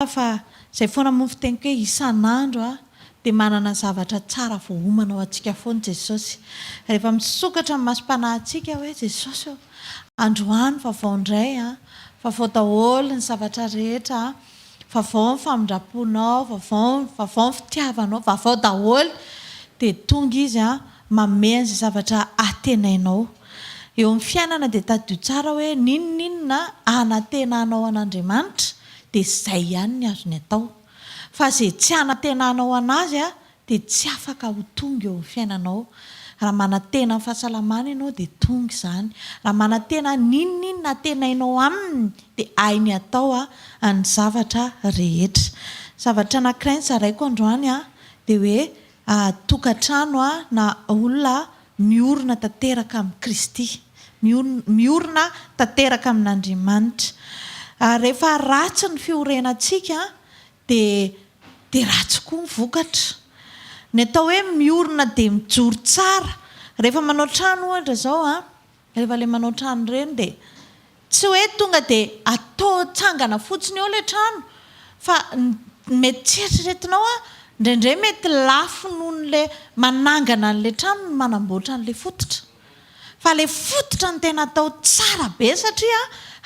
Marina fa izay foana moa ny fiteniko hoe isan'andro dia manana zavatra tsara voaomana ho antsika foana Jesosy. Rehefa misokatra ny masom-panahintsika hoe Jesosy ô, androany vavao indray an, vavao daholo ny zavatra rehetra an, vavao ny famindram-ponao, vavao, vavao ny fitiavanao, vavao daholo, dia tonga Izy an, manome an'izay zavatra antenainao. Eo amin'ny fiainana dia tadidio tsara hoe n'inon'inona anantenanao an'Andriamanitra dia izay ihany ny azony atao. Fa izay tsy hanantenanao an'azy dia tsy afaka ho tonga eo amin'ny fiainanao. Raha manantena ny fahasalamana ianao dia tonga izany. Raha manantena n'inon'inona antenainao aminy dia hainy hatao ny zavatra rehetra. Zavatra anankiray nozaraiko androany dia hoe tokantrano na olona miorina tanteraka amin'i Kristy, miorina tanteraka amin'Andriamanitra. Ary rehefa ratsy ny fiorenantsika dia dia ratsy koa ny vokatra. Ny atao hoe miorina dia mijoro tsara. Rehefa manao trano ohatra izao an, Rehefa le manao trano ireny dia tsy hoe tonga dia atao tsangana fotsiny eo ilay trano fa mety tsy eritreretinao a, indraindray mety lafo noho an'ilay manangana an'ilay trano ny manamboatra an'ilay fototra. Fa ilay fototra no tena atao tsara be satria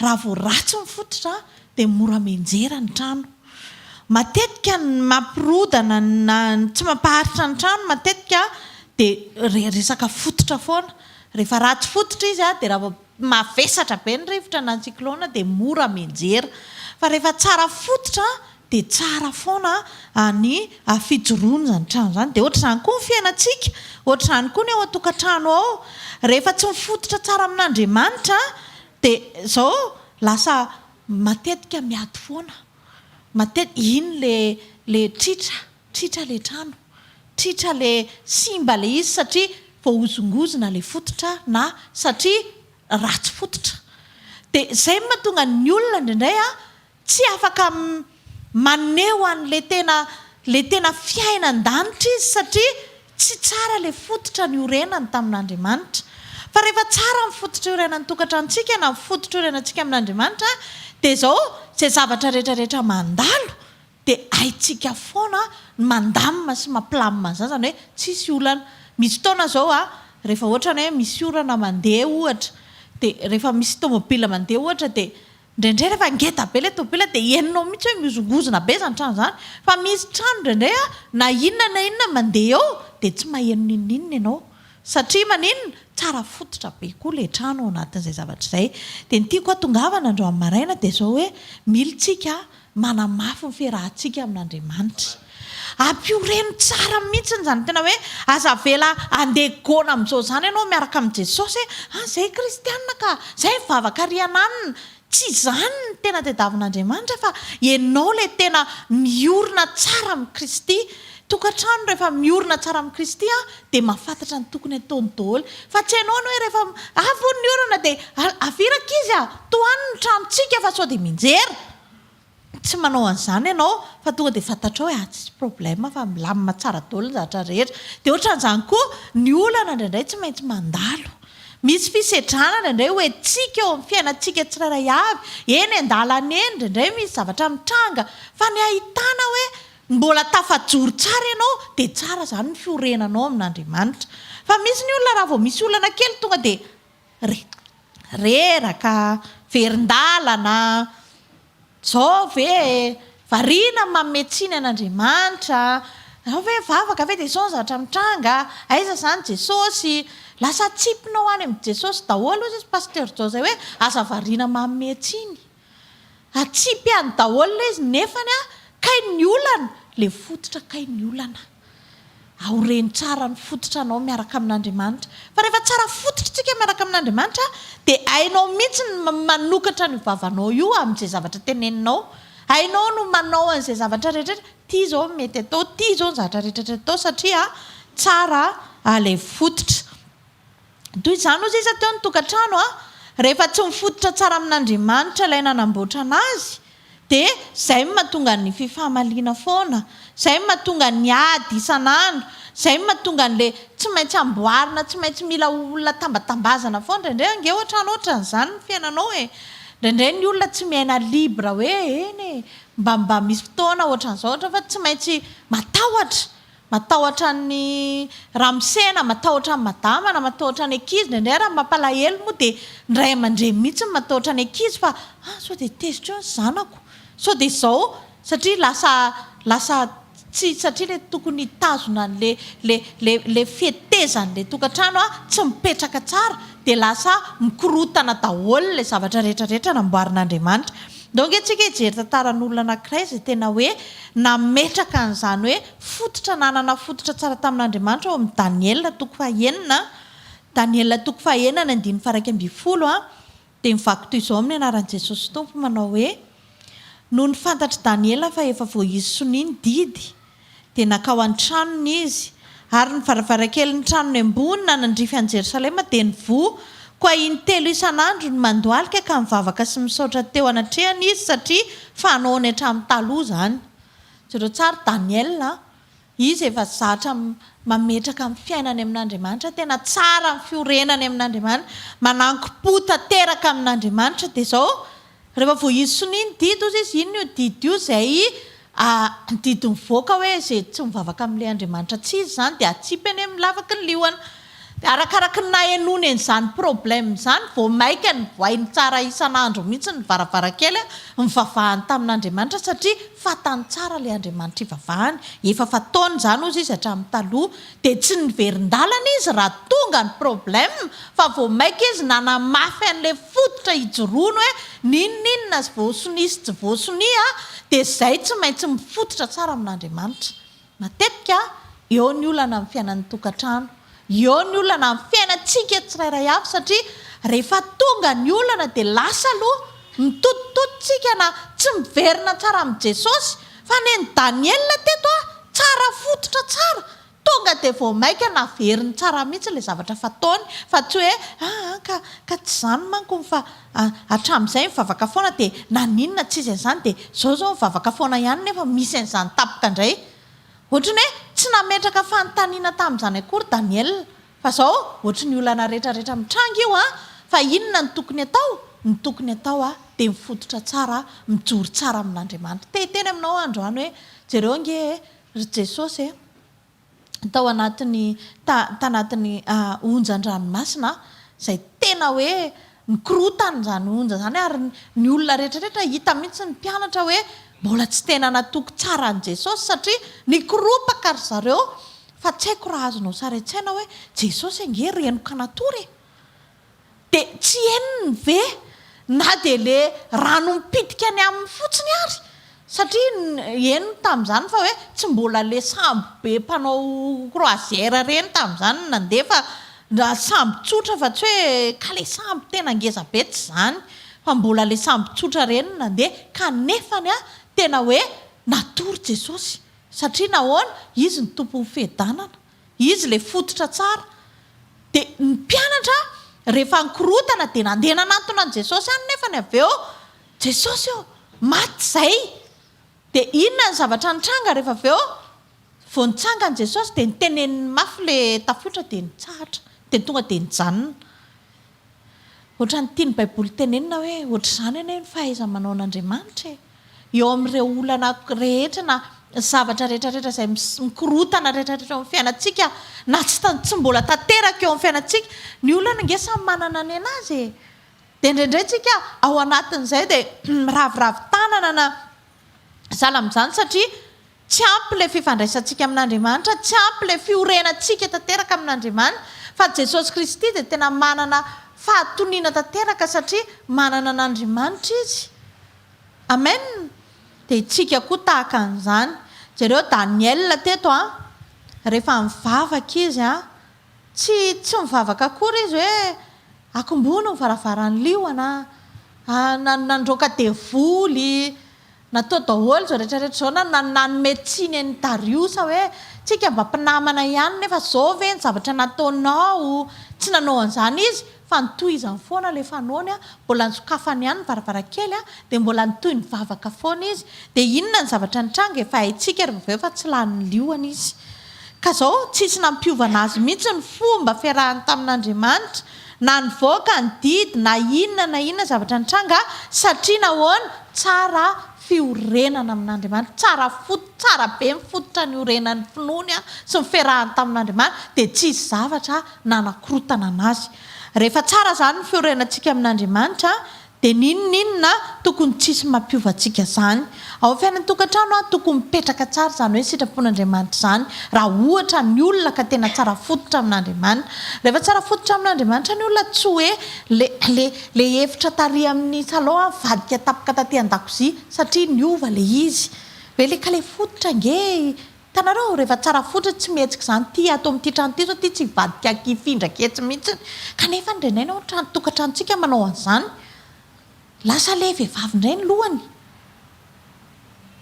raha vao ratsy ny fototra dia mora mianjera ny trano. Matetika ny mampirodana na ny tsy mampaharitra ny trano matetika dia resaka fototra foana Rehefa ratsy fototra izy dia raha mavesatra be ny rivotra na ny cyclone dia mora mianjera. Fa rehefa tsara fototra dia tsara foana ny fijoroana izany trano izany. Dia ohatr'izany koa ny fiainantsika, ohatr'izany koa ny ao an-tokantrano ao. Rehefa tsy mifototra tsara amin'Andriamanitra dia izao lasa matetika miady foana. Matetika, iny ilay tritra. Tritra le trano, tritra le simba le izy satria voahozongozona le fototra na satria ratsy fototra. De zay no mahatonga ny olona indraindray a tsy afaka maneho an'le tena le tena fiaina an-danitra izy satria tsy tsara le fototra niorenany tamin'Andriamanitra. Fa rehefa tsara ny fototra iorenan'ny tokantranontsika na ny fototra iorenantsika amin'Andriamanitra de zao, zay zavatra retraretra mandalo Dia haintsika foana ny mandamina sy mampilamina ny zaza ny hoe tsisy olana. Misy fotoana izao a, rehefa ohatra ny hoe misy orana mandeha ohatra, dia rehefa misy tomobila mandeha ohatra dia indraindray rehefa ngeda be ilay tomobila dia henonao mihitsy hoe mihozongozona be izany trano izany. Fa misy trano indraindray a, na inona na inona mandeha eo dia tsy maheno n'inon'inona ianao. Satria maninona? Tsara fototra be koa ilay trano ao anatin'izay zavatra izay. Dia ny tiako hatongavana androany maraina dia izao hoe, mily tsika Manamafy ny fiarahantsika amin'Andriamanitra. Ampioreno tsara mihitsy izany tena hoe aza avela handeha goana amin'izao izany ianao miaraka amin'i Jesosy hoe an izay kristiana ka, izay mivavaka ary hananina. Tsy izany ny tena tadiavin'Andriamanitra fa ianao ilay tena miorina tsara amin'i Kristy. Tokantrano rehefa miorina tsara amin'i Kristy an, dia mahafantatra ny tokony hataony daholo. Fa tsy hainao ny hoe rehefa avy hono ny orana dia avirako izy an, tohaniny ny tranontsika fa sao dia mianjera. Tsy manao an'izany ianao fa tonga dia fantatrao hoe ah tsisy problème fa milamina tsara daholo ny zavatra rehetra. Dia ohatran'izany koa ny olana indraindray tsy maintsy mandalo. Misy fisedrana indraindray ho entintsika eo amin'ny fiainantsika tsirairay avy. Eny an-dalana eny indraindray misy zavatra mitranga fa ny ahitana hoe mbola tafajoro tsara ianao dia tsara izany ny fiorenanao amin'Andriamanitra. Fa misy ny olona raha vao misy olana kely tonga dia reraka, verin-dalana, zao ve e, variana ny manome tsiny an'Andriamanitra, zao ve mivavaka ve dia sao ny zavatra mitranga, aiza izany Jesosy, lasa atsipina ho any amin'i Jesosy daholo hoy pasteur Jao izay hoe aza variana manome tsiny. Atsipihany daholo le izy nefany a kay ny olana le fototra kay ny olana aoreno tsara ny fototra anao miaraka amin'Andriamanitra fa rehefa tsara fototra tsika miaraka amin'Andriamanitra de hainao mintsy ny manokatra an'io vavanao io amin'izay zavatra teneninao hainao no manao an'izay zavatra rehetra ty zao ny mety atao ty zao ny zavatra rehetra atao satria tsara lay fototra Toy izany hoy sisa teo ny tokantrano rehefa tsy mifototra tsara amin'Andriamanitra ilay nanamboatra anazy dia izay no mahatonga ny fifamaliana foana, izay no mahatonga ny ady isan'andro, izay no mahatonga an'ilay tsy maintsy amboarina, tsy maintsy mila olona tambatambazana foana, indraindray ange ohatrany ohatran'izany ny fiainanao e! indraindray ny olona tsy miaina libre hoe eny e! mba mba misy fotoana ohatran'izao ohatra fa tsy maintsy matahotra, Matahotra an'i ramose na matahotra an'i madama na matahotra ny ankizy, indraindray ary ny mampalahelo moa dia ny ray aman-dreny mihitsy no matahotra ny ankizy fa ah sao dia tezitra eo ny zanako, sao dia izao satria lasa lasa tsy satria ilay tokony hitazona an'ilay ilay ilay ilay fetezan'ilay tokantrano tsy mipetraka tsara dia lasa mikorotana daholo ilay zavatra rehetra rehetra namboarin'Andriamanitra. Ndao ange tsika hijery tantaran'olona anankiray izay tena hoe nametraka an'izany hoe fototra nanana fototra tsara tamin'Andriamanitra ao amin'ny Daniela toko fahenina, Daniela toko fahenina ny andininy faharaika ambin'ny folo a, dia mivaky toy izao amin'ny anaran'i Jesosy Tompo manao hoe, Nony fantatr'i Daniela fa efa voahizy sonia ny didy, Dia nankao an-tranony izy, ary ny varavarankelin'ny tranony ambony nanandrify an'i Jerosalema dia nivoha, koa intelo isan'andro ny mandohalika ka nivavaka sy nisaotra teo anatrehany izy, satria fanaony hatramin'ny taloha izany. Jereo tsara Daniel a! Izy efa zatra mametraka ny fiainany amin'Andriamanitra, tena tsara ny fiorenany amin'Andriamanitra, mananko-po tanteraka amin'Andriamanitra, dia izao Rehefa vao izy sonia ny didy hozy izy, inona io didy io izay didy mivoaka hoe izay tsy mivavaka amin'ilay Andriamanitra tsy izy izany dia hatsipy any amin'ny lavaky ny liona. Dia arakaraky ny nahenoany an'izany problème izany vao maika nivoainy tsara isan'andro mihitsy ny varavarankely nivavahany tamin'Andriamanitra satria fantany tsara ilay Andriamanitra ivavahany, efa fataony izany hozy izy hatramin'ny taloha. Dia tsy niverin-dalana izy raha tonga ny problème fa vao maika izy nanamafy an'ilay fototra hijoroany hoe n'inon'inona azy voasonia sy tsy voasonia dia izay tsy maintsy mifototra tsara amin'Andriamanitra. Matetika eo ny olana amin'ny fiainan'ny tokantrano, eo ny olana amin'ny fiainantsika tsirairay avy satria rehefa tonga ny olana dia lasa aloha mitotototosika na tsy miverina tsara amin'i Jesosy Fa neny Daniela teto a, tsara fototra tsara, tonga dia vao maika naveriny tsara mihitsy ilay zavatra fataony fa tsy hoe a a ka ka tsy izany manko ny fa a hatramin'izay mivavaka foana dia naninona tsy izy an'izany dia izao izao mivavaka foana ihany nefa misy an'izany tapaka indray. Ohatran'ny hoe tsy nametraka fanontaniana tamin'izany akory Daniela Fa zao ohatry ny olana rehetra rehetra mitranga io a! Fa inona no tokony atao? Ny tokony atao a dia mifototra tsara a, mijoro tsara amin'Andriamanitra. Te hiteny aminao aho androany hoe jereo ange e, ry Jesosy e, tao anatin'ny ta tanatin'ny onjan-dranomasina a, izay tena hoe ny korotany izany onja izany ary ny olona rehetra rehetra hita mihitsy ny mpianatra hoe mbola tsy tena natoky tsara an'i Jesosy satria nikoropaka ry zareo fa tsy haiko raha azonao sary an-tsaina hoe Jesosy ange renoka natory e! dia tsy henony ve na dia le rano mipitika ny aminy fotsiny ary Satria henony tamin'izany fa hoe tsy mbola ilay sambo be mpanao croisière ireny tamin'izany no nandeha fa raha sambo tsotra fa tsy hoe ka ilay sambo tena ngeza be tsy izany fa mbola ilay sambo tsotra ireny no nandeha kanefany an tena hoe natory Jesosy satria nahoana? Izy no tompon'ny fiadanana. Izy ilay fototra tsara. Dia ny mpianatra rehefa nikorotana dia nandeha nanantona an'i Jesosy any nefany avy eo, Jesosy ô, maty izay! Dia inona ny zavatra nitranga rehefa avy eo? Vao nitsangana Jesosy dia niteneniny mafy ilay tafiotra dia nitsahatra. Dia tonga dia nijanona. Ohatran'ny tian'ny Baiboly tenenina hoe, Ohatr'izany anie ny fahaiza-manaon'Andriamanitra e! Eo amin'ireo olana rehetra na zavatra rehetrarehetra izay mikorotana rehetrarehetra eo amin'ny fiainantsika na tsy tsy mbola tanteraka eo amin'ny fiainantsika, ny olana ange samy manana ny anazy e! dia indraindray tsika ao anatin'izay dia miraviravy tanana na sahala amin'izany satria Tsy ampy ilay fifandraisantsika amin'Andriamanitra, tsy ampy ilay fiorenantsika tanteraka amin'Andriamanitra, fa Jesosy Kristy dia tena manana fahatoniana tanteraka satria manana an'Andriamanitra Izy. Amen! Dia isika koa tahaka an'izany. Jereo Daniel teto an! Rehefa mivavaka izy an! Tsy, tsy mivavaka akory izy hoe, Akombony ny varavaran'ny liona, an, nandroaka devoly, Natao daholo izao rehetra rehetra izao na nanome tsiny an'i Dariosa hoe tsika mba mpinamana ihany nefa izao ve ny zavatra nataonao? Tsy nanao an'izany izy fa nitohizany foana ilay fanaony, mbola nisokafany ihany ny varavarankely dia mbola nitohy nivavaka foana izy. Dia inona ny zavatra nitranga? Efa haintsika ry vaveo fa tsy lany liona izy. Ka izao tsisy nampiovana azy mihitsy ny fomba fiarahany tamin'Andriamanitra. Na nivoaka ny didy na inona na inona zavatra nitranga satria nahoana? Tsara fiorenana amin'Andriamanitra, tsara fot, tsara be ny fototra niorenan'ny finoany sy niferahany tamin'Andriamanitra dia tsy hisy zavatra nanakorotana anazy. Rehefa tsara izany ny fiorenantsika amin'Andriamanitra Dia n'inon'inona tokony tsy hisy mampiova antsika zany ao fiainan'ny tokantrano a! Tokony mipetraka tsara izany hoe sitrapon'Andriamanitra izany raha ohatra ny olona ka tena tsara fototra amin'Andriamanitra. Rehefa tsara fototra amin'Andriamanitra ny olona tsy hoe le le le efitra tary amin'ny salon a mivadika tapaka taty an-dakozia satria niova le izy. Ve le ka le fototra ange Hitanareo ao rehefa tsara fotsiny tsy mihetsika izany ity ato amin'ity trano ity izao ity tsy hivadika aky hifindraka etsy mihitsy kanefa ny renay na ny trano tokantranontsika manao an'izany lasa ilay vehivavy indray ny lohany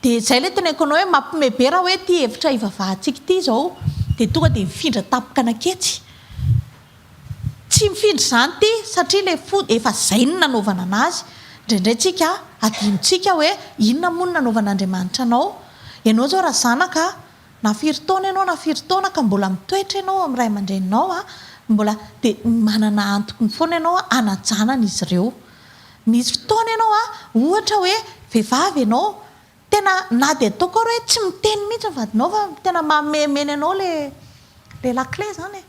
dia izay ilay teneniko anao hoe mampime be raha hoe ity efitra hivavahantsika ity izao dia tonga dia mifindra tampoka naketsy Tsy mifindra izany ity satria ilay fo efa izay no nanaovana anazy. Indraindray tsika adinontsika hoe inona moa no nanaovan'Andriamanitra anao. Ianao izao raha zanaka na firy taona ianao na firy taona ka mbola mitoetra ianao amin'ny ray aman-dreninao mbola dia manana antony foana ianao hanajanana izy ireo. Misy fotoana ianao ohatra hoe vehivavy ianao Tena na dia ataoko ary hoe tsy miteny mihitsy ny vadinao fa tena mamemeny anao ilay lakile izany e!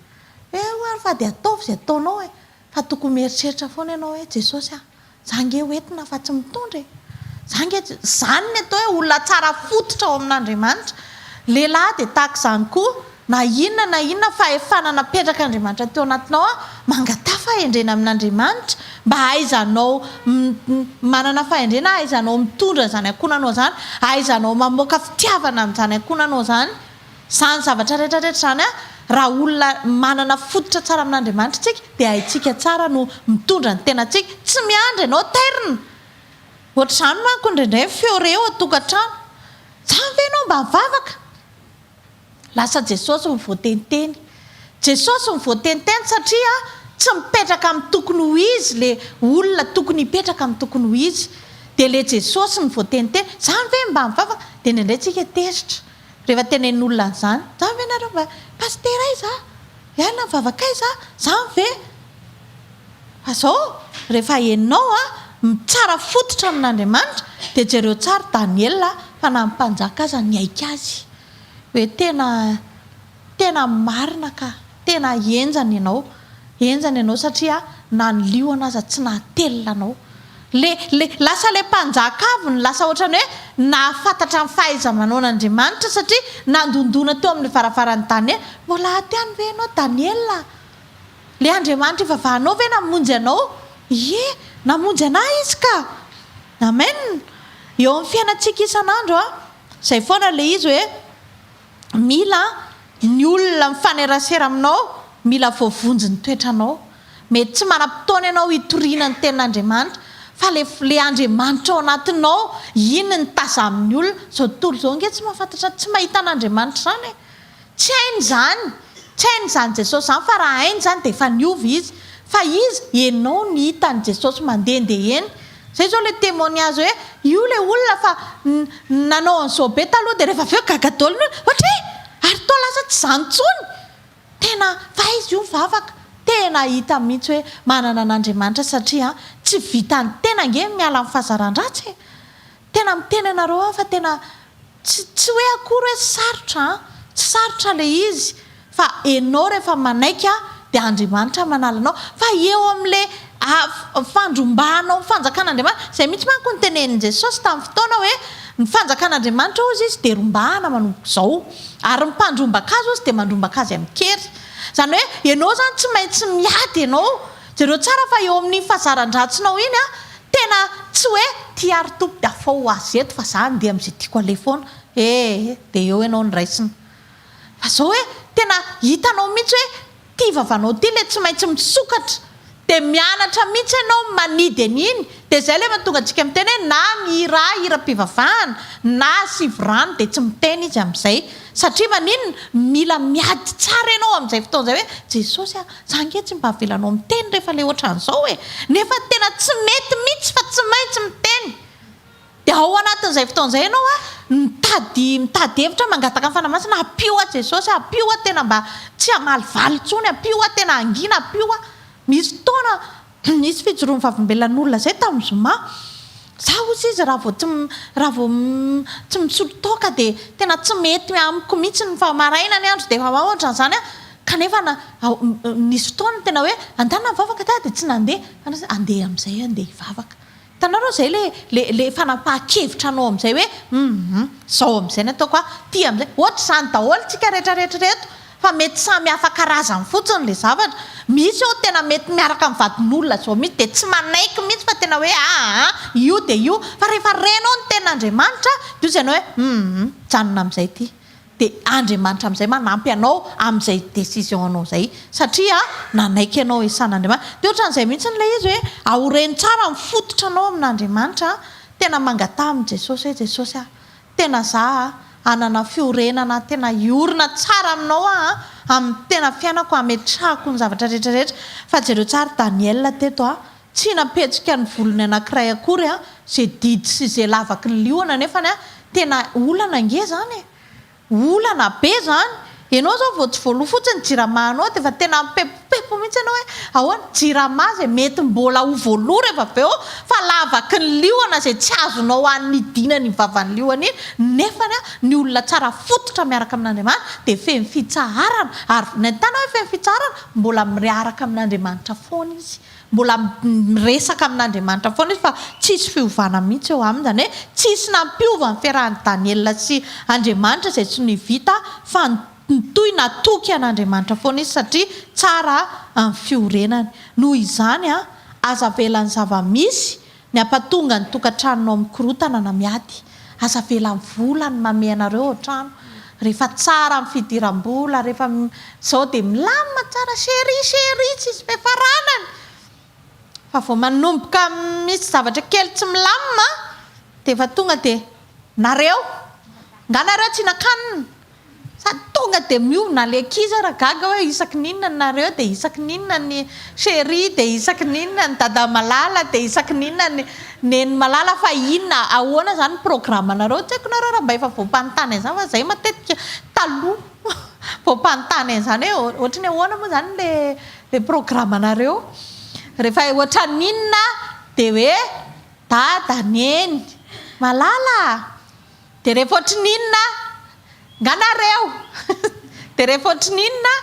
Eo ary fa dia ataovy izay ataonao e! Fa tokony mieritreritra foana ianao hoe Jesosy a! Za ange ho entina fa tsy mitondra e! Za ange tsy. Izany ny atao hoe olona tsara fototra ao amin'Andriamanitra. Lehilahy dia tahaka izany koa. Na inona na inona fahefana napetrak'Andriamanitra teo anatinao an, mangataha fahendrena amin'Andriamanitra mba hahaizanao manana fahendrena, hahaizanao mitondra izany ankohonanao izany, hahaizanao mamoaka fitiavana amin'izany ankohonanao izany. Izany zavatra rehetra rehetra izany an, raha olona manana fototra tsara amin'Andriamanitra isika dia haintsika tsara no mitondra ny tenantsika. Tsy miandry ianao tairina. Ohatr'izany manko indraindray ny feo re eo an-tokantrano. Zany ve ianao mba mivavaka? Lasa Jesosy no voateniteny. Jesosy no voateniteny satria tsy mipetraka amin'ny tokony ho izy le olona tokony hipetraka amin'ny tokony ho izy. Dia le Jesosy no voateniteny. Zany ve mba mivavaka? Dia indraindray tsika tezitra rehefa tenenin'olona an'izany. Zany ve nareo mba Pasitera ay za? Hiala ny vavakay za? Zany ve? Fa zao rehefa enao a mitsara fototra amin'Andriamanitra dia jereo tsara Daniela fa na ny mpanjaka aza niaiky azy. hoe tena tena marina ka, tena henjana ianao, henjana ianao satria na ny liona aza tsy nahatelina anao. Le le lasa le mpanjaka avy no lasa ohatrany hoe nahafantatra ny fahaiza-manaon'Andriamanitra satria nandondona teo amin'ny varavaran'i Daniela, mbola aty ihany ve ianao Daniela a? Le Andriamanitra ivavahanao ve namonjy anao? Ie, namonjy anah Izy ka! Amen! Eo amin'ny fiainantsika isan'andro a. Izay foana ilay izy hoe mila ny olona mifanerasera aminao, mila voavonjy ny toetranao. Mety tsy manam-potoana ianao hitoriana ny tenin'Andriamanitra, fa ilay ilay Andriamanitra ao anatinao iny no tazan'ny olona. Izao tontolo izao ange tsy mahafantatra, tsy mahita an'Andriamanitra izany e! Tsy hainy izany, tsy hainy izany Jesosy izany fa raha hainy izany dia efa niova izy. Fa iza ianao no hita an'i Jesosy mandehandeha eny? Izay izao ilay témoignage hoe io ilay olona fa nanao an'izao be taloha dia rehefa avy eo gaga daholo ny olona, ohatra hoe ary toa lasa tsy izany intsony! Tena fa izy io mivavaka tena hita mihitsy hoe manana an'Andriamanitra satria tsy vitan'ny tena ange ny miala amin'ny fahazaran-dratsy e! Tena miteny anareo aho fa tena Tsy tsy hoe akory hoe sarotra an! Tsy sarotra ilay izy fa enao rehefa manaiky an dia Andriamanitra manala anao fa eo amin'ilay fandrombahanao ny fanjakan'Andriamanitra, izay mihitsy manko no tenenin'i Jesosy tamin'ny fotoana hoe ny fanjakan'Andriamanitra ozy izy dia rombahana manomboka izao ary ny mpandrombaka azy ozy dia mandrombaka azy amin-kery. Izany hoe enao izany tsy maintsy miady enao Jereo tsara fa eo amin'ny fazaran-dratsinao iny an, tena tsy hoe tia ary topy dia afaho ho azy eto fa za andeha amin'izay tiako aleha foana ee, dia eo ianao no raisina. Fa izao hoe tena hitanao mihitsy hoe ity vavanao ity ilay tsy maintsy misokatra, dia mianatra mihitsy ianao manidy an'iny, dia izay ilay mahatonga antsika miteny hoe na mihirà hiram-pivavahana na sivo rano dia tsy miteny izy amin'izay, satria maninona? mila miady tsara ianao amin'izay fotoana izay hoe Jesosy a, Za nge tsy mba avelanao miteny refa le otran'zao e! Nefa tena tsy mety mitsy fa tsy maintsy miteny! De ao anatin'zay fotoana zay ianao a mitady mitady hevitra mangataka ny Fanahy Masina ampio hoa Jesosy ampio hoa tena mba tsy hamaly valy tsony ampio hoa tena hangina ampio hoa misy fotoana Nisy fijoroan'ny Vavolombelon'olona izay tamin'ny zoma. Izaho hozy izy raha vao tsy raha vao tsy misolo toaka dia tena tsy mety amiko mihitsy ny fa maraina ny andro dia efa mahantra an'izany aho kanefa nisy fotoana tena hoe andana mivavaka dahy dia tsy nandeha fa handeha amin'izay aho handeha hivavaka. Hitanao aloha izay ilay ilay fanapahan-kevitra anao amin'izay hoe humm izao amin'izay no ataoko an, ity amin'izay. Ohatr'izany daholo isika rehetra rehetra ireto fa mety samy hafa karazany fotsiny ilay zavatra. Misy eo tena mety miaraka amin'ny vadin'olona izao mihitsy dia tsy manaiky mihitsy fa tena hoe aa io dia io fa rehefa renao ny tenin'Andriamanitra dia hoy izy ianao hoe humm mijanona amin'izay ity. dia Andriamanitra amin'izay manampy anao amin'izay décision anao izay satria nanaiky anao esan'Andriamanitra dia ohatran'izay mihintsiny ilay izy hoe aoreno tsara ny fototra anao amin'Andriamanitra tena mangataha amin'i Jesosy hoe Jesosy ah tena za ah hanana fiorenana tena hiorina tsara aminao aho amin'ny tena fiainako hametrahako ny zavatra rehetra rehetra fa jereo tsara Daniel teto ah Tsy nampihetsika ny volony anankiray akory izay didy sy izay lavaky ny liona nefany a! Tena olana ange zany e! Olana be zany! Enao zao vao tsy voaloa fotsiny jirama anao dia efa tena mipempompempo mihitsy enao hoe ahoana? Jirama izay mety mbola ho voaloa rehefa avy eo fa lavaky ny liona izay tsy azonao anidina ny vavan'ny liona iny nefany a! Ny olona tsara fototra miaraka amin'Andriamanitra dia feno fitsaharana ary vinaintanao hoe feno fitsaharana mbola miaraka amin'Andriamanitra foana izy. Mbola miresaka amin'Andriamanitra foana izy fa tsisy fiovana mihitsy eo aminy, izany hoe tsisy nampiova ny fiarahan'i Daniela sy Andriamanitra izay tsy nivita fa nitohy natoky an'Andriamanitra foana izy satria tsara ny fiorenany. Noho izany, aza avela ny zava-misy Ny hampatonga ny tokantranonao mikorontana na miady, aza avela ny vola ny mamehy anareo ao an-trano, rehefa tsara ny fidiram-bola, rehefa izao dia milamina tsara, chérie, chérie, tsy misy fiafarànany, fa vao manomboka misy zavatra kely tsy milamina dia efa tonga dia, nareo, nga nareo tsy nakanina, Fa tonga dia miovona ilay ankizy ary gaga hoe isaky ny inona ny nareo dia isaky ny inona ny cherie dia isaky ny inona ny dada malala dia isaky ny inona ny neny malala fa inona ahoana izany ny programanareo tsy haiko nareo raha mba efa voampanontany an'izany fa izay matetika taloha voampanontany an'izany hoe ohatry ny ahoana moa izany ilay ilay programanareo rehefa ohatry ny inona dia hoe dada neny malala Dia rehefa ohatry ny inona nga nareo? Dia rehefa ohatry ny inona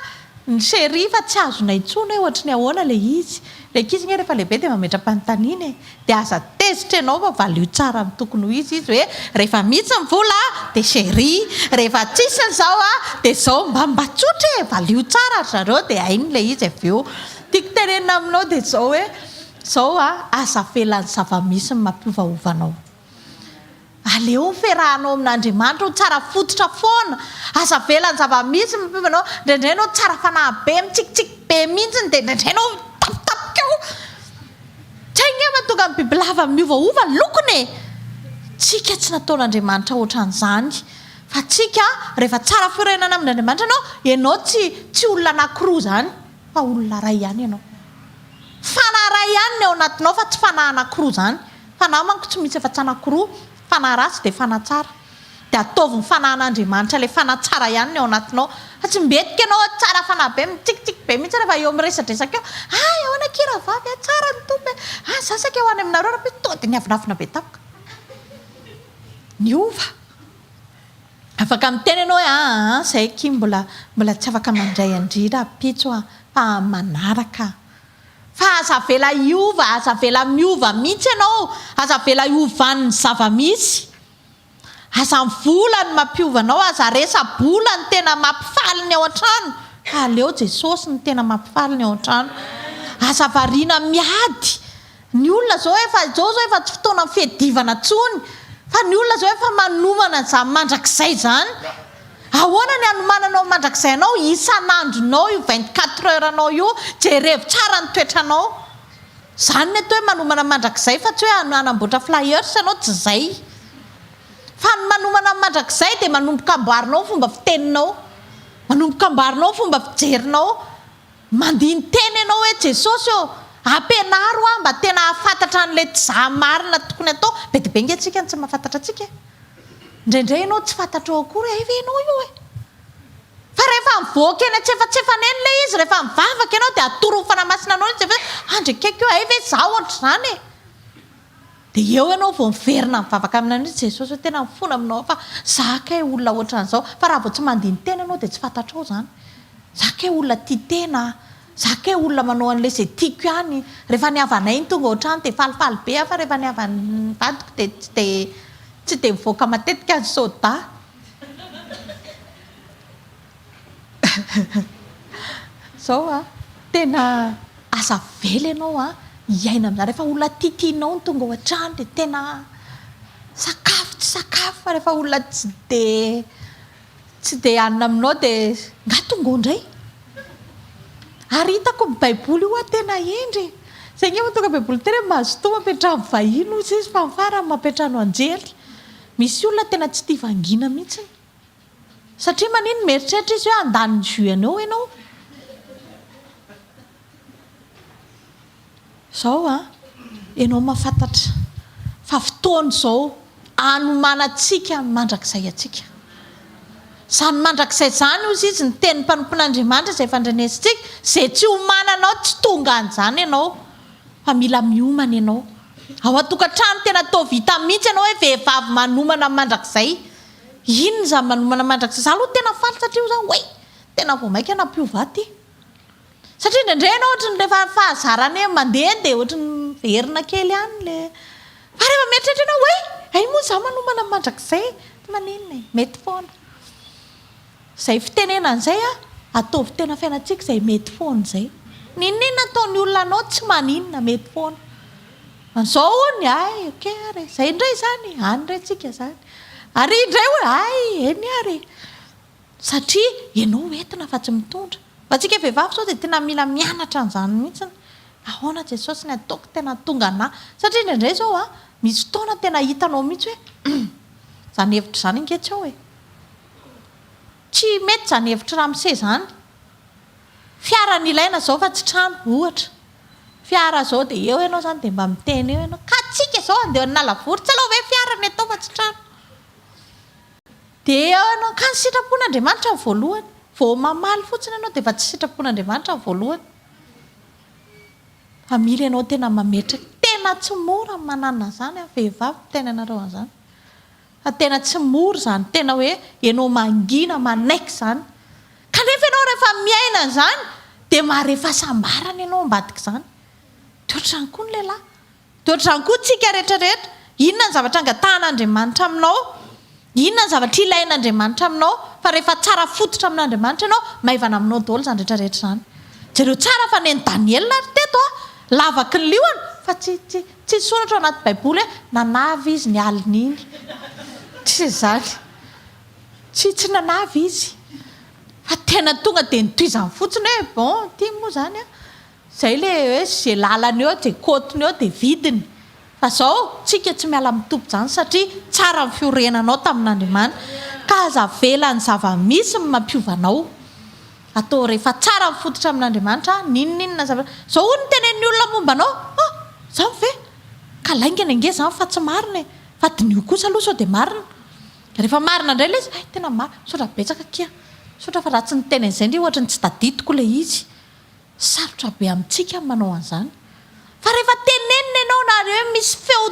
ny chérie fa tsy azonay intsony hoe ohatry ny ahoana ilay izy? Ilay ankizy nge rehefa lehibe dia mametra-panontaniana e! Dia aza tezitra ianao fa valio tsara ny tokony ho izy izy hoe rehefa mitsy ny vola dia chérie, rehefa tsisy ny zao dia zao, mba mba tsotra e! Valio tsara ry zareo dia hainy ilay izy avy eo. Tiako tenenina aminao dia zao hoe zao a, aza avela ny zava-misy ny mampiovaova anao. Aleo ny fiarahanao amin'Andriamanitra ho tsara fototra foana, aza avela ny zava-misy miova anao, indraindray ianao tsara fanahy be, mitsikitsiky be mihitsy dia indraindray ianao mitapitapika ao, tsy hay nge mahatonga ny bibilava miovaova ny lokony e! Tsika tsy nataon'Andriamanitra ohatran'izany fa tsika rehefa tsara fiorenana amin'Andriamanitra ianao, ianao tsy tsy olona anakiroa izany fa olona iray ihany ianao, fanahy iray ihany ny ao anatinao fa tsy fanahy anakiroa izany. Fanahy manko tsy misy afa-tsy anankiroa, fanahy ratsy dia fanahy tsara. Dia ataovy ny fanahin'Andriamanitra ilay fanahy tsara ihany ny ao anatinao. Fa tsy mbetika ianao hoe tsara fanahy be, mitsikitsiky be mihitsy rehefa eo miresadresaka eo, hay ahoana akia rahavavy a, tsara ny Tompo e, hay za saika ho any aminareo rahampitso, tonga dia niavonavona be tampoka. Niova. Afaka miteny ianao hoe aa izahay akia mbola mbola tsy afaka mandray an-dry rahampitso a, fa amin'ny manaraka. Fa aza avela hiova, aza avela miova mihitsy ianao, aza avela hiovan'ny zava-misy. Aza ny vola no mampiova anao, aza resa-bola no tena mampifaly ny ao an-trano, fa aleo Jesosy no tena mampifaly ny ao an-trano. Aza variana miady, ny olona izao efa, izao izao efa tsy fotoanan'ny fiadivana intsony, fa ny olona izao efa manomana izany mandrakizay izany. Ahoana ny anomananao ny mandrakizay anao? Isan'andronao io vingt quatre heures anao io, jerevo tsara ny toetranao. Zany ny atao hoe manomana ny mandrakizay fa tsy hoe hanamboatra flyers ianao tsy zay. Fa ny manomana ny mandrakizay dia manomboka amboarinao ny fomba fiteninao, manomboka amboarinao ny fomba fijerinao. Mandini-tena ianao hoe Jesosy ô, ampianaro aho mba tena hahafantatra an'ilay tza marina tokony atao, be dia be nge tsika no tsy mahafantatra antsika e! Indraindray ianao tsy fantatrao akory hoe hay ve ianao io e! Fa rehefa mivoaka eny an-tsefatsefana eny ilay izy, rehefa mivavaka ianao dia atoron'ny Fanahy Masina anao ilay zavatra hoe, andry akaiky eo, hay ve izaho ohatr'izany e! Dia eo ianao vao miverina mivavaka aminy amin'iny Jesosy hoe tena mifona aminao aho fa za kay olona ohatran'izao fa raha vao tsy mandini-tena ianao dia tsy fantatrao izany. Za kay olona tia tena aho, za kay olona manao an'ilay izay tiako ihany, rehefa ny havanay no tonga ao an-trano dia falifaly be aho fa rehefa ny havan'ny vadiko dia tsy dia tsy dia mivoaka matetika ny soda. Zao an, tena aza avela ianao an, hiaina amin'izany. Rehefa olona tiatianao no tonga ao an-trano dia tena sakafo tsy sakafo. Fa rehefa olona tsy dia tsy dia hanina aminao dia angaha tonga ao indray. Ary hitako ny Baiboly io an, tena hendry e! Izay ange vao tonga Baiboly tena hoe mazotoa mampiantrano vahiny hoy izy fa ny farany mampiantrano anjely. Misy olona tena tsy tia vangiana mihitsy. Satria manino mieritreritra izy hoe handany ny jus anao ianao. Izao an, ianao mahafantatra fa fotoana izao hanomanantsika ny mandrakizay antsika. Izany mandrakizay izany, hoy izy, ny tenin'ny mpanompon'Andriamanitra izay efa andrenesintsika, izay tsy hiomananao, tsy tonga an'izany ianao, fa mila miomana ianao. Ao an-tokantrano tena toa vita mihitsy ianao hoe vehivavy manomana ny mandrakizay. Inona izany manomana mandrakizay izany? Izaho aloha tena faly satria hoy izaho oay! tena vao mainka nampiova aty. Satria indraindray ianao ohatran'ny rehefa fahazarana hoe mandeha dia ohatran'ny miverina kely ihany ilay, fa rehefa mieritreritra ianao oay! hay moa izaho manomana mandrakizay e! maninona e! mety foana. Izay fitenenana izay a, ataovy tena fiainantsika izay mety foana izay. N'inon'inona ataon'ny olona anao tsy maninona, mety foana. An'izao hono, ay, ok ary e, izay indray izany e, any indray tsika izany. Ary indray hoe, ay, eny ary e. Satria ianao ho entina fa tsy mitondra. Fa antsika vehivavy izao dia tena mila mianatra an'izany mihitsy. Ahoana Jesosy ny ataoko tena hahatonga anà? Satria indraindray izao a, misy fotoana tena hitanao mihitsy hoe, humm, izany hevitra izany ange tsy ao e. Tsy mety izany hevitr'i Ramose izany. Fiara no ilaina izao fa tsy trano, ohatra. Fiara izao dia eo ianao izany dia mba miteny eo ianao, ka antsika izao handeha any Nalavory, tsy aleo ve fiara no atao fa tsy trano. Dia eo ianao, ka ny sitrapon'Andriamanitra no voalohany. Vao mamaly fotsiny ianao dia efa tsy sitrapon'Andriamanitra no voalohany. Fa mila ianao tena mametraka. Tena tsy mora ny manana an'izany an, vehivavy miteny anareo an'izany. Fa tena tsy mora izany, tena hoe ianao mangina manaiky izany. Kanefa ianao rehefa miaina an'izany dia mahare fahasambarana ianao ambadik'izany. Dia ohatr'izany koa ny lehilahy. Dia ohatr'izany koa isika rehetra rehetra. Inona ny zavatra angatahan'Andriamanitra aminao? Inona ny zavatra ilain'Andriamanitra aminao? Fa rehefa tsara fototra amin'Andriamanitra ianao, maivana aminao daholo izany rehetra rehetra izany. Jereo tsara fa nen'i Daniela ary teto an, lavaky ny liona fa tsy, tsy, Tsy soratra ao anaty baiboly hoe nanavy izy ny alina iny. Tsisy izany. Tsy tsy nanavy izy. Fa tena tonga dia nitohizany fotsiny hoe bon ity moa izany an. Izay ilay hoe izay lalany eo, izay côte-ny eo dia vidiny. Fa izao tsika tsy miala amin'ny toby izany satria tsara ny fiorenanao tamin'Andriamanitra. Ka aza avela ny zava-misy ny mampiova anao. Atao rehefa tsara mifototra amin'Andriamanitra n'inon'inona zavatra. Izao hono no tenenin'ny olona momba anao, Ah! Izany ve? Ka laingany ange izany fa tsy marina e! Fa diniho kosa aloha sao dia marina. Rehefa marina indray ilay izy, hay tena marina, misaotra betsaka akia. Misaotra fa raha tsy niteny an'izay indray ohatry ny tsy tadidiko ilay izy. Sarotra be amintsika ny manao an'izany. Fa rehefa tenenina ianao na rehefa hoe misy feo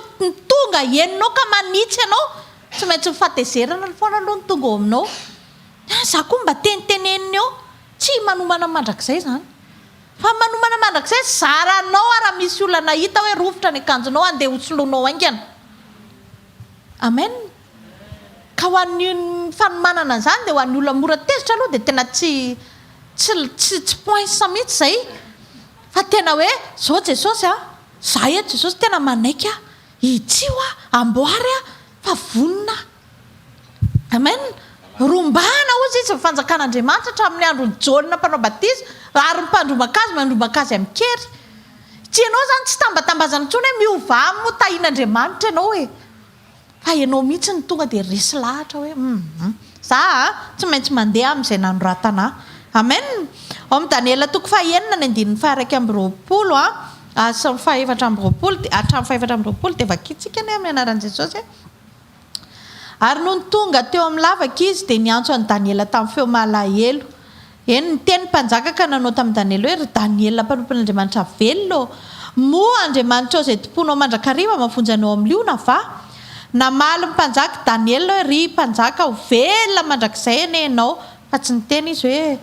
tonga henonao ka manitsy anao, tsy maintsy ny fahatezerana foana aloha no tonga ao aminao. Dia any za koa mba tenitenenina eo. Tsy manomana mandrakizay izany. Fa ny manomana mandrakizay, zaranao ary raha misy olona nahita hoe rovitra ny akanjonao, handeha hosoloanao haingana. Amen. Ka ho an'ny fanomanana an'izany dia ho an'ny olona mora tezitra aloha dia tena tsy tsy tsy tsy poinsa mihitsy izay fa tena hoe izao Jesosy a, za eto Jesosy tena manaiky aho, hitsio aho, amboary aho fa vonona aho. Amen. Rombahana hozy izy ny fanjakan'Andriamanitra hatramin'ny andron'i Jaona mpanao batisa ary ny mpandrombaka azy mandrombaka azy amin-kery. Tsy ianao izany tsy tambatambazana intsony hoe miovà moa tahin'Andriamanitra ianao e. Fa ianao mihitsy no tonga dia resy lahatra hoe humm. Za a, tsy maintsy mandeha amin'izay nanoratana ahy. Amen. Ao amin'ny Daniela toko fahenina ny andininy faha-iraika amby roapolo a, sy ny faha-efatra amby roapolo dia, hatramin'ny faha-efatra amby roapolo dia vakintsika anie amin'ny anaran'i Jesosy e. Ary nony tonga teo amin'ny lavaka izy dia niantso an'i Daniela tamin'ny feo malahelo. Eny, niteny ny mpanjaka ka nanao tamin'i Daniela hoe, Ry Daniela mpanompon'Andriamanitra velona ô, moa Andriamanitrao izay tompoinao mandrakariva mahavonjy anao amin'ny liona va? Namaly ny mpanjaka Daniela hoe, Ry mpanjaka, ho velona mandrakizay anie ianao! Fa tsy niteny izy hoe,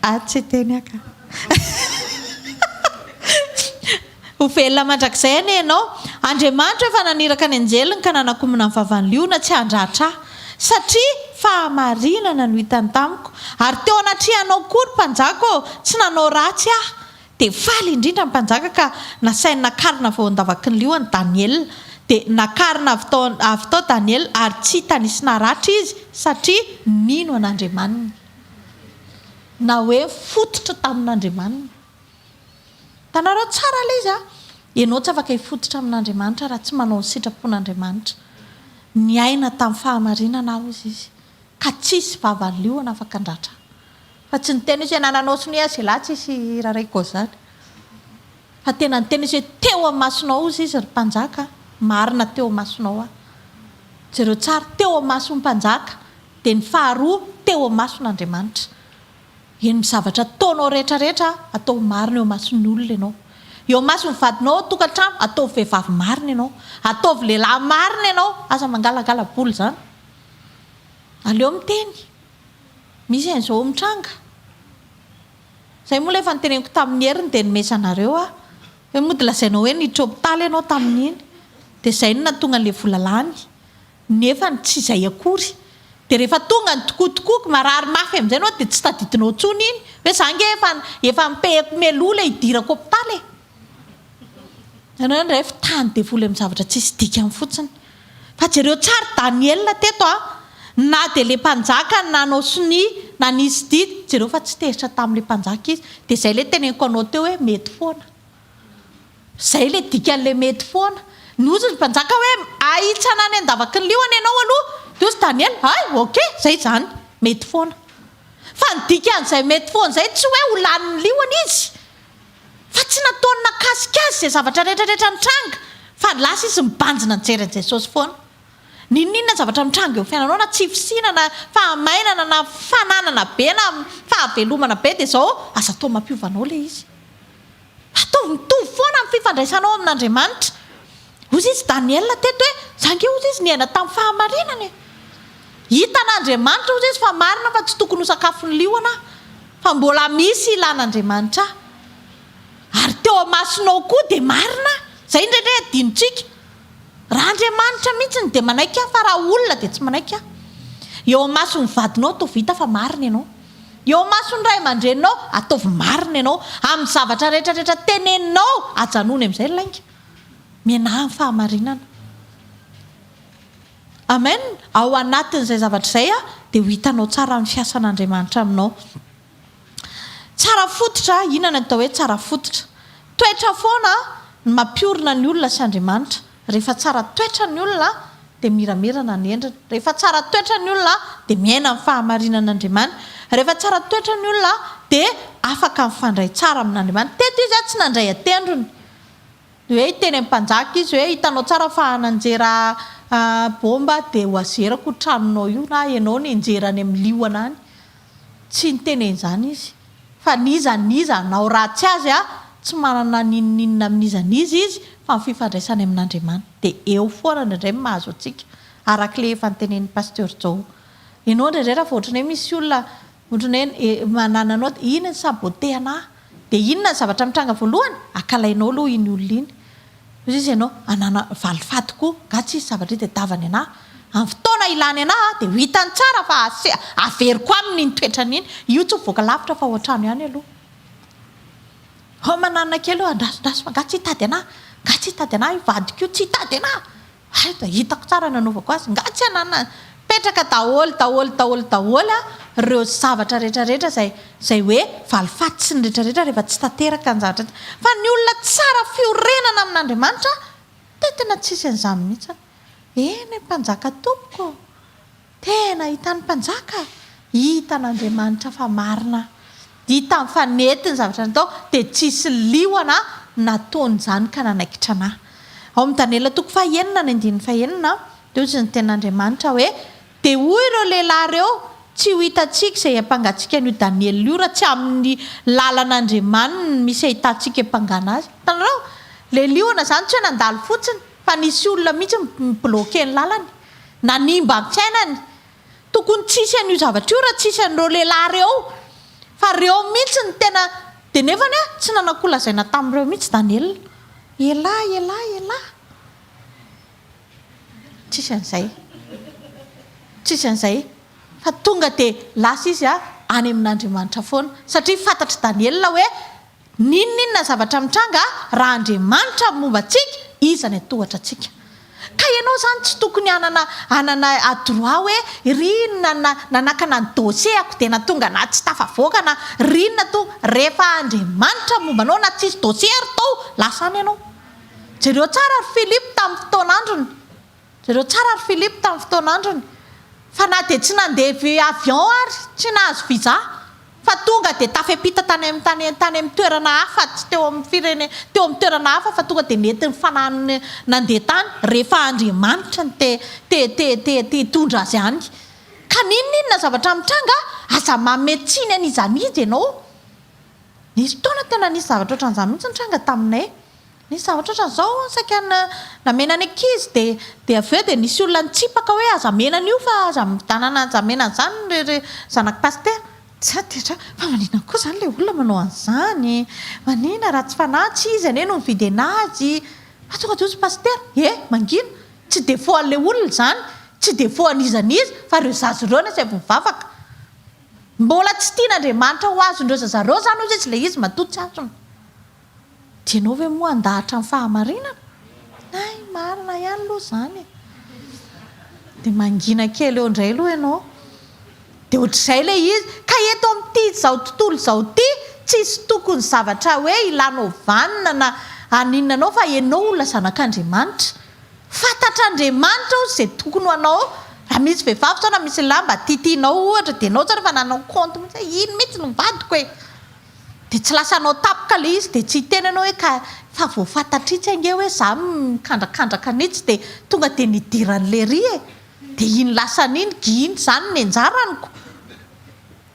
Ary tsy hiteny aho ka. Ho velona mandrakizay anie ianao. Andriamanitra efa naniraka ny anjeliny ka nanakomana ny vavan'i liona tsy handratra ahy, satria fahamarinana no hitany tamiko, ary teo anatrehanao koa ry mpanjaka ô, tsy nanao ratsy aho. Dia faly indrindra ny mpanjaka ka nasainy nakarina avy ao an-davaky ny liona Daniela. Dia nakarina avy tao avy tao Daniela ary tsy hita nisy naratra izy, satria nino an'Andriamaniny. Na hoe nifototra tamin'Andriamaniny. Hitanareo tsara ilay izy an! Ianao tsy afaka hifototra amin'Andriamanitra raha tsy manao ny sitrapon'Andriamanitra. Niaina tamin'ny fahamarinana aho, hozy izy, ka tsy hisy vava liona afaka handratra ahy. Fa tsy niteny izy hoe, nananao sonia azy ialahy, tsy hisy hiraraiko an'izany. Fa tena niteny izy hoe, teo amin'ny masonao, hozy izy, ry mpanjaka, marina teo amin'ny masonao aho. Jereo tsara, teo amin'ny mason'ny mpanjaka, dia ny faharoa, teo amin'ny mason'Andriamanitra. Heno ny zavatra ataonao rehetra rehetra aho, ataovy marina eo imason'ny olona ianao. Eo imason'ny vadinao ao an-tokantrano, ataovy vehivavy marina ianao. Ataovy lehilahy marina ianao, aza mangalangala bola izany. Aleo miteny. Misy an'izao mitranga. Izay moa ilay efa noteneniko tamin'ny heriny dia nomeza anareo aho. Hoe mody lazainao hoe niditra hopitaly ianao tamin'iny, dia izay no nahatonga an'ilay vola lany. nefa ny tsy izay akory dia rehefa tonga ny tokoa tokoa ka marary mafy amin'izay ianao dia tsy tadidinao intsony iny hoe za ange efa efa ampiehiko mialoha ilay hidirako hopitaly e! ianao indray efa tany devoly amin'ny zavatra tsisy dikany fotsiny fa jereo tsara i Daniela teto a! na dia ilay mpanjaka no nanao sonia nanisy didy jereo fa tsy tezitra tamin'ilay mpanjaka izy dia izay ilay teneniko anao teo hoe mety foana Izay ilay dikan'ilay mety foana. Nozy ry mpanjaka hoe, Ahitsana any an-davaky ny liona ianao aloha. Nozy Daniela, Hay, ok, izay izany. Mety foana. Fa ny dikan'izay mety foana izay tsy hoe ho lanin'ny liona izy. Fa tsy nataony nakasika azy izay zavatra rehetrarehetra nitranga. Fa lasa izy mibanjina nijery an'i Jesosy foana. N'inon'inona zavatra mitranga eo amin'ny fiainanao, na tsy fisiana, na fahamainana, na fananana be, na fahavelomana be, dia izao, aza atao mampiova anao ilay izy. Ataovy mitovy foana amin'ny fifandraisanao amin'Andriamanitra. Hoy izy Daniela teto hoe, Za ange hoy izy niaina tamin'ny fahamarinana e. Hitan'Andriamanitra hoy izy fa marina fa tsy tokony ho sakafon'ny liona aho, fa mbola misy ilan'Andriamanitra ahy. Ary teo amasonao koa dia marina aho. Izay indraindray adinontsika. Raha Andriamanitra mihitsy no dia manaiky ahy fa raha olona dia tsy manaiky ahy. Eo amason'ny vadinao toa vita fa marina ianao. Eo imason'ny ray aman-dreninao, ataovy marina ianao. Amin'ny zavatra rehetra rehetra teneninao, ajanony amin'izay ny lainga. Mianaha ny fahamarinana. Amen. Ao anatin'izay zavatra izay, dia ho hitanao tsara ny fiasan'Andriamanitra aminao. Tsara fototra, inona ny atao hoe tsara fototra? Toetra foana ny mampiorina ny olona sy Andriamanitra. Rehefa tsara toetra ny olona dia miramirana ny endriny. Rehefa tsara toetra ny olona dia miaina ny fahamarinan-Andriamanitra. Rehefa tsara toetra ny olona dia afaka mifandray tsara amin'Andriamanitra. Teto izy tsy nandray an-tendrony hoe hiteny amin'ny mpanjaka izy hoe hitanao tsara fa nanjera baomba dia ho azerako io tranonao io na ianao nenjera any amin'ny liona any. Tsy niteny an'izany izy. Fa n'iza n'iza hanao ratsy azy a, tsy manana n'inon'inona amin'iza n'iza izy, fa ny fifandraisany amin'Andriamanitra dia eo foana indraindray no mahazo antsika, arak'ilay efa notenenin'i Pasteur Jao. Ianao indraindray raha vao ohatran'ny hoe misy olona ohatran'ny hoe manana anao dia iny ny saboter-na, dia inona ny zavatra mitranga voalohany? Akalainao aloha iny olona iny. Hoy izy ianao anana valifaty ko nga tsisy zavatra hita tavany ana am fotoana ilany ana a de ho hitany tsara fa aseha averiko aminy iny toetrany iny io tsy mivoaka lavitra fa ao antrano ihany aloha hao manana kely hoe andraso draso fa nga tsy hitady ana nga tsy hitady ana io vadiko io tsy hitady ana Aiza? Hitako tsara nanaovako azy. Nga tsy ananana. Petraka daholo, daholo, daholo, daholo ireo zavatra rehetra rehetra izay, izay hoe valifaty sy ny rehetra rehetra rehefa tsy tanteraka ny zavatra ity. Fa ny olona tsara fiorenana amin'Andriamanitra dia tena tsisy an'izany mihitsy. Eny, Mpanjaka tompoko ô! Tena hitan'ny mpanjaka, hitan'Andriamanitra fa marina hitan'ny fa nety ny zavatra natao dia tsisy liona nataony izany ka nanaikitra ana. Ao amin'ny Daniela toko faha enina ny andininy faha enina dia hozy ny tenin'Andriamanitra hoe dia hoy ireo lehilahy ireo tsy ho hitantsika izay hiampangatsika an'io Daniela io raha tsy amin'ny lalan'Andriamaniny misy ahitantsika hiampangana azy. Hitanareo? Ilay liona izany tsy hoe nandalo fotsiny. fa nisy olona mihitsy ni bloquer ny lalany, nanimba ny fiainany, tokony tsy hisy an'io zavatra io raha tsy hisy an'ireo lehilahy ireo, fa ireo mihitsy no tena, dia nefany aho tsy nananko lazaina tamin'ireo mihitsy Daniel, elah elah elah, tsisy an'izay, tsisy an'izay, fa tonga dia lasa izy any amin'Andriamanitra foana, satria fantatr'i Daniel hoe N'inon'inona zavatra mitranga raha Andriamanitra no momba antsika, Iza ny antohatra antsika? Ka ianao izany tsy tokony hanana hanana a droit hoe ry inona na nanakana ny dossier-ako dia na tonga na tsy tafavoaka na ry inona to rehefa Andriamanitra no momba anao na tsisy dossier ary to lasa any ianao. Jereo tsara ry Philippe tamin'ny fotoan'androny. Jereo tsara ry Philippe tamin'ny fotoana androny fa na dia tsy nandeha by avion ary tsy nahazo visa fa tonga dia tafepita tany amin'ny tany tany amin'ny toerana hafa tsy teo amin'ny firene teo amin'ny toerana hafa fa tonga dia nety ny fanahiny nandeha tany rehefa Andriamanitra no te te te te te hitondra azy any ka n'inona inona zavatra mitranga aza manome tsiny an'iza n'iza ianao nisy fotoana tena nisy zavatra ohatran'izany mihitsy nitranga taminay Nisy zavatra ohatran'izao hono saika namena ny ankizy dia dia avy eo dia nisy olona nitsipaka hoe aza amena an'io fa aza midanana aza amena an'izany ry ry zanak'i pasitera. Tsy aiko dia tra, fa manina koa izany ilay olona manao an'izany e? Manina raha tsy fanahy, tsy izy anie no nividy an'azy. Fa tonga dia hoy ny pasitera, he, mangina, tsy défaut an'ilay olona izany, tsy défaut an'iza n'iza, fa ireo zaza ireo no asaivo mivavaka. Mbola tsy tian'Andriamanitra ho azon'ireo zaza ireo izany hoy izy ilay izy matoa tsy azony. Dia ianao ve moa handahatra ny fahamarinana? Hay, marina ihany aloha izany e! Dia mangina kely eo indray aloha ianao. Dia ohatr'izay ilay izy. Ka eto amin'ity izao tontolo izao ity, tsisy tokony zavatra hoe hilanao vanona na haninona anao fa ianao olona zanak'Andriamanitra. Fantatr'Andriamanitra hozy izay tokony ho anao. Raha misy vehivavy sao na misy lehilahy mba titinao ohatra, dia ianao izany efa nanao kaonty mihitsy hoe iny mihitsy no vadiko e! Dia tsy lasa hanao tapaka ilay izy dia tsy hiteny ianao hoe ka fa vao fantatr'itsy ange hoe izaho mikandrakandraka an'itsy dia tonga dia nidiran'i leiry e! dia iny lasany iny giny izany ny anjaraniko!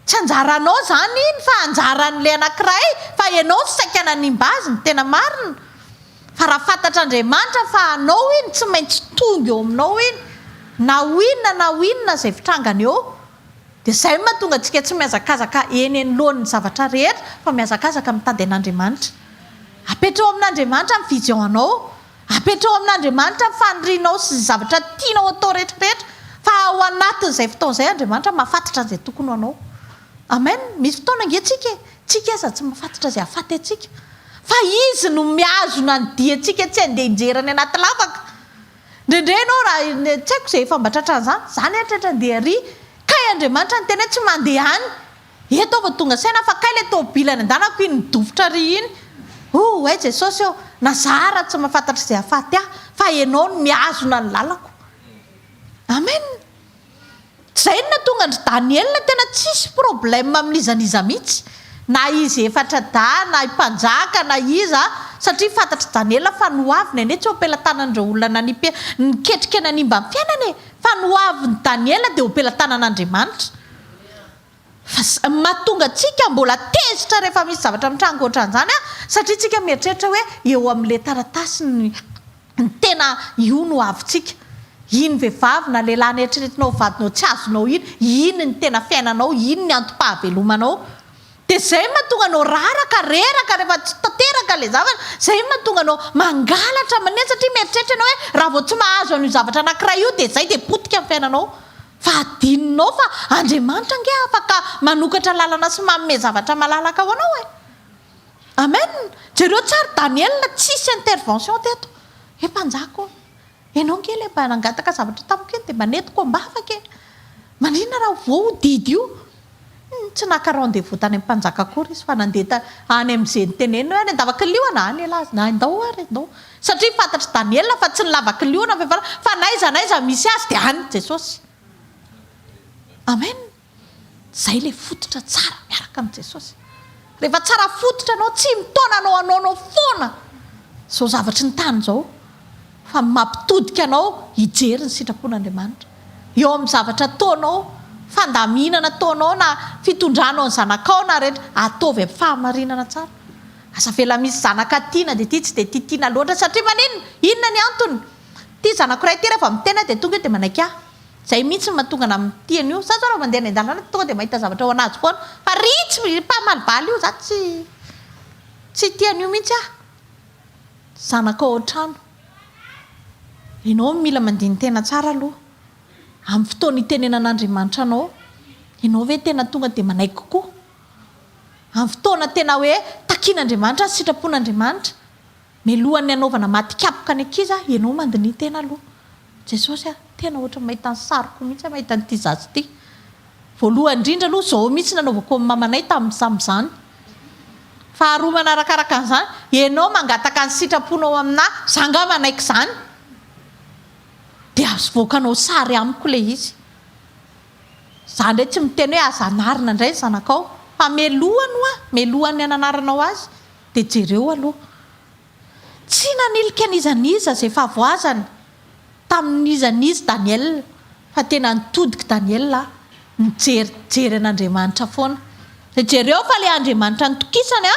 tsy anjaranao izany iny fa anjaran'ilay anankiray fa ianao no saika nanimba azy ny tena marina fa raha fantatr'Andriamanitra fa anao iny tsy maintsy tonga eo aminao iny na ho inona na ho inona izay fitrangany eo Dia izay no mahatonga antsika tsy mihazakazaka eny anoloan'ny zavatra rehetra fa mihazakazaka mitady an'Andriamanitra. Apetraho amin'Andriamanitra ny fijeoanao. Apetraho amin'Andriamanitra ny fanirianao sy ny zavatra tianao atao rehetra rehetra fa ao anatin'izay fotoana izay Andriamanitra mahafantatra an'izay tokony ho anao. Amen! Misy fotoana ange tsika e, tsika aza tsy mahafantatra izay hahafaty antsika. Fa Izy no mihazona ny diantsika tsy handeha hianjera any anaty lavaka. Ndrendre enao raha tsy haiko zay efa mba tratran'izany, za ny eritreritra dia ery kay Andriamanitra niteny hoe tsy mandeha any, eto aho vao tonga saina fa kay le tôbily any andanako iny midofotra ary iny, oh hay Jesosy ô, na za ara tsy mahafantatra izay hahafaty ahy fa enao no mihazona ny lalako. Amen. Zay no nahatonga an-dry Daniela tena tsisy problème amin'iza n'iza mihitsy, na izy efatra dahy, na i mpanjaka, na iza, satria fantatr'i Daniela fa noaviny anie tsy ho am-pelatanan'ireo olona nanipy niketrika nanimba ny fiainany e! Fa noavin'i Daniela dia ho am-pelatanan'Andriamanitra. Fa zay no mahatonga antsika mbola tezitra rehefa misy zavatra mitranga ohatran'izany an! Satria tsika mieritreritra hoe eo amin'ilay taratasy ny ny tena io no havintsika. Iny vehivavy na lehilahy neritreretinao ho vadinao tsy azonao iny, iny ny tena fiainanao, iny ny antom-pahavelomanao. Dia izay no mahatonga anao raraka, reraka rehefa tsy tanteraka ilay zavatra. Izay no mahatonga anao mangalatra aman'iny satria mieritreritra ianao hoe raha vao tsy mahazo an'io zavatra anankiray io dia izay dia potika ny fiainanao. Fa adinonao fa Andriamanitra ange afaka manokatra lalana sy manome zavatra malalaka ho anao e! Amen! Jereo tsara i Daniela tsisy intervention teto! He mpanjaka o! Enao ange ilay mba nangataka zavatra tamiko iny dia mba nentiko am-bavaka e! Maninona raha voa io didy io? Tsy naka rendez-vous tany amin'ny mpanjaka akory izy fa nandeha ta any amin'izay niteneniny hoe any an-davakiliona, any elah azy, na indao ary indao, satria fantatr'i Daniela fa tsy ny lavakiliona ve fa fa n'aiza n'aiza misy azy dia any Jesosy. Amen! Izay ilay fototra tsara miaraka amin'i Jesosy. Rehefa tsara fototra anao, tsy mitaona anao hanaonao foana izao zavatry ny tany izao. fa ny mampitodika anao hijery ny sitrapon'Andriamanitra eo amin'ny zavatra ataonao, fandaminana ataonao na fitondranao ny zanakao na rehetra, ataovy amin'ny fahamarinana tsara. Aza avela misy zanaka tiana dia tia tsy dia tia tiana loatra satria maninona? Inona ny antony? Ity zanako iray ity rehefa miteny aho dia tonga eo dia manaiky ahy. Izay mihitsy no mahatonga anà amin'ny tiany io. Za zao raha mandeha any an-dalana dia tonga dia mahita zavatra ao anajy foana fa ry tsy mpamaly bala io za tsy tsy tia an'io mihitsy aho. Zanaka ao an-trano. Ianao no mila mandini-tena tsara aloha. Amin'ny fotoana itenenan'Andriamanitra anao, ianao ve tena tonga dia manaiky kokoa? Amin'ny fotoana tena hoe takian'Andriamanitra ny sitrapon'Andriamanitra, mialohan'ny hanaovana maty kapoka ny ankizy, ianao mandiniha-tena aloha. Jesosy a, tena ohatran'ny mahita ny sariko mihitsy aho mahita an'ity zaza ity. Voalohany indrindra aloha izao mihitsy nanaovako amin'ny mamanay tamin'ny samin'izany. Faharoa manarakaraka an'izany, ianao mangataka ny sitraponao aminà, izaho angaha manaiky izany? Dia avoakanao sary amiko ilay izy. Izaho indray tsy miteny hoe aza anarina indray ny zanakao, fa melohany hoa, melohany ny hananaranao azy, dia jereo aloha. Tsy nanilika n'iza n'iza izay fahavoazana tamin'iza n'iza Daniela, fa tena nitodika Daniela nijery jery an'Andriamanitra foana. Dia jereo fa ilay Andriamanitra nitokisany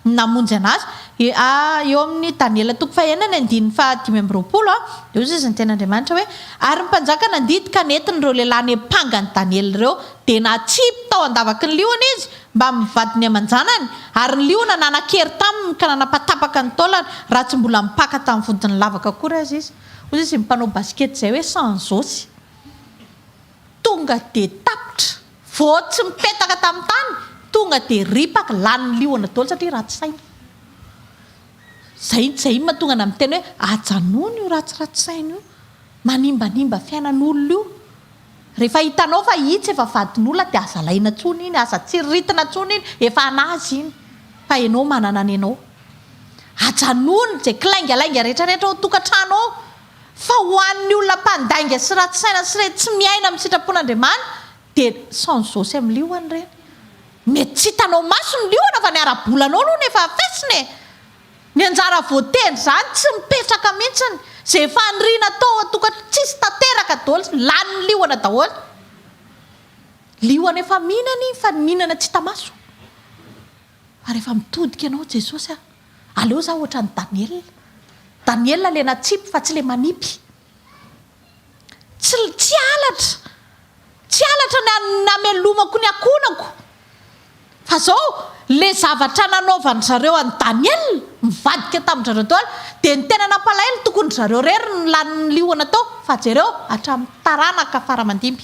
no namonjy anazy. Eo amin'ny Daniela toko fahenina ny andininy fahadimy amby roapolo, dia hoy izy ny teny Andriamanitra hoe, Ary ny mpanjaka nandidy ka nentin'ireo lehilahy niampanga an'i Daniela ireo, dia natsipy tao an-davaky ny liona izy, mbamin'ny vadiny aman-janany, ary ny liona nanan-kery taminy ka nanapatapaka ny taolany raha tsy mbola mipaka tamin'ny vodiny lavaka akory aza izy. Hoy izy mpanao basikety izay hoe sans osy. Tonga dia tapitra, vao tsy mipetaka tamin'ny tany, tonga dia ripaka, lany ny liona daholo satria ratsy saina. Izay izay mahatonga anao miteny hoe ajanony io ratsiratsy saina io, manimbanimba fiainan'olona io. Rehefa hitanao fa itsy efa vadin'olona dia aza alaina intsony iny, aza tsiriritina intsony iny, efa an'azy iny fa ianao manana ny anao. Ajanony izay kilaingalainga rehetrarehetra ao an-tokantrano ao fa ho an'ny olona mpandainga sy ratsy saina sy ireny tsy miaina amin'ny sitrapon'Andriamani dia sans zo sy amin'ny liona ireny. Mety tsy hitanao maso ny liona fa ny ara-bolanao aloha no efa afesina e! Ny anjara voatendry izany tsy mipetraka mintsiny, izay efa nirina tao an-tokatrano tsisy tanteraka doly, lanin'ny liona daholo, liona efa mihinana iny fa ny mihinana tsy hita maso, fa rehefa mitodika ianao Jesosy a, aleo za ohatran'i Daniela, Daniela le natsipy fa tsy le manipy. Tsy tsy halatra, tsy halatra ny an- namelomako ny ankohonako. Fa izao, ilay zavatra nanaovan-dry zareo an'i Daniel, nivadika tamin-dry zareo daholo, dia ny tena nampalahelo tokony ry zareo irery no lanin'ny liona tao, fa jereo, hatramin'ny taranaka fara-mandimby.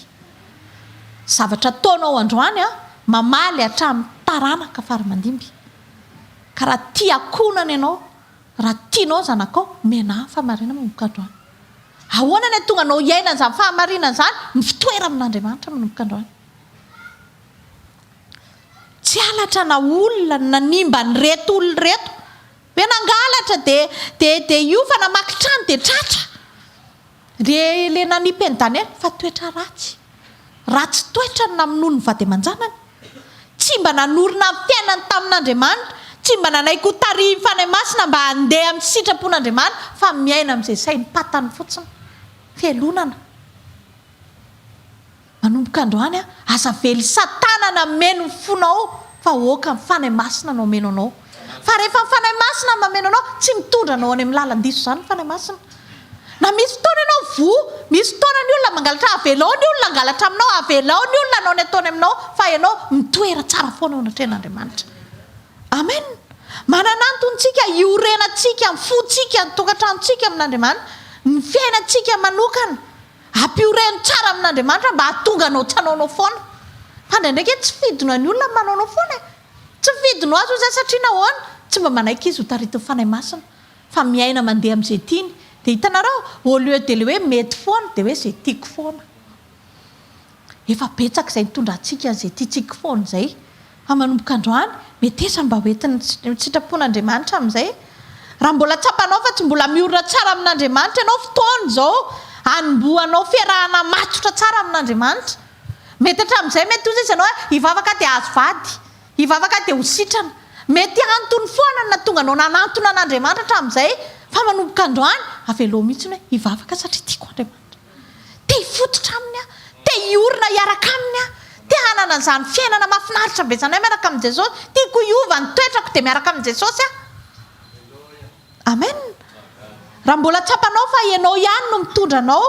Zavatra ataonao androany an, mamaly hatramin'ny taranaka fara-mandimby. Ka raha tia ankohonana ianao, Raha tianao ny zanakao, omena ahy ny fahamarinana manomboka androany. Ahoana ny hahatonga anao hiaina an'izany fahamarinana izany? Mifitoera amin'Andriamanitra manomboka androany. Tsy halatra na olona no nanimba an'ireto olona ireto. Ve nangalatra dia dia dia hiofana hamaky trano dia tratra? Re le nanipy an'i Daniel fa toetra ratsy. Ratsy toetra ny namonoany ny vady aman-janany. Tsy mba nanorina ny fiainany tamin'Andriamanitra, tsy mba nanaiky ho tarihin'ny Fanahy Masina mba handeha amin'ny sitrapon'Andriamanitra fa miaina amin'izay saim-patany fotsiny. Fialonana. Manomboka androany aza vely satana nameno ny fonao fa oka ny fanahy masina no ameno anao fa rehefa ny fanahy masina no mameno anao tsy mitondra anao any amin'ny lalan-diso izany ny fanahy masina na misy fotoana ianao voa misy fotoana ny olona mangalatra avelao ny olona hangalatra aminao avelao ny olona hanao ny ataony aminao fa ianao mitoera tsara foana ao anatrehan'Andriamanitra amen manana antontsika iorenantsika ny fontsika ny tokantranontsika amin'Andriamanitra ny fiainantsika manokana Ampio reny tsara amin'Andriamanitra mba hahatonga anao tsy hanao anao foana. Fa indraindraiky hoe tsy fidinao ny olona ny manao anao foana e. Tsy fidinao azy hoy za satria nahoana? Tsy mba manaiky izy ho taritin'ny Fanahy Masina. Fa miaina mandeha amin'izay tiany. Dia hitanareo, au lieu de le hoe mety foana, dia hoe izay tiako foana. Efa betsaka izay nitondra antsika an'izay tiantsika foana izay. Fa manomboka androany, metesa ny mba ho entin'ny sitrapon'Andriamanitra amin'izay. Raha mbola tsapanao fa tsy mbola miorina tsara amin'Andriamanitra ianao, fotoana izao hanombohanao fiarahana matotra tsara amin'Andriamanitra. Mety hatramin'izay mety ho izy ianao hoe, hivavaka aho dia hahazo vady, hivavaka aho dia ho sitrana. Mety antony foana no nahatonga anao nanantona an'Andriamanitra hatramin'izay, fa manomboka androany, avelao mihitsy ny hoe, hivavaka satria tiako Andriamanitra. Te hifototra Aminy aho. Te hiorina hiaraka Aminy aho. Te hanana an'izany fiainana mahafinaritra ambesanay miaraka amin'i Jesosy. Tiako hiova ny toetrako dia miaraka amin'i Jesosy aho. Amen. Raha mbola tsapanao fa ianao ihany no mitondra anao,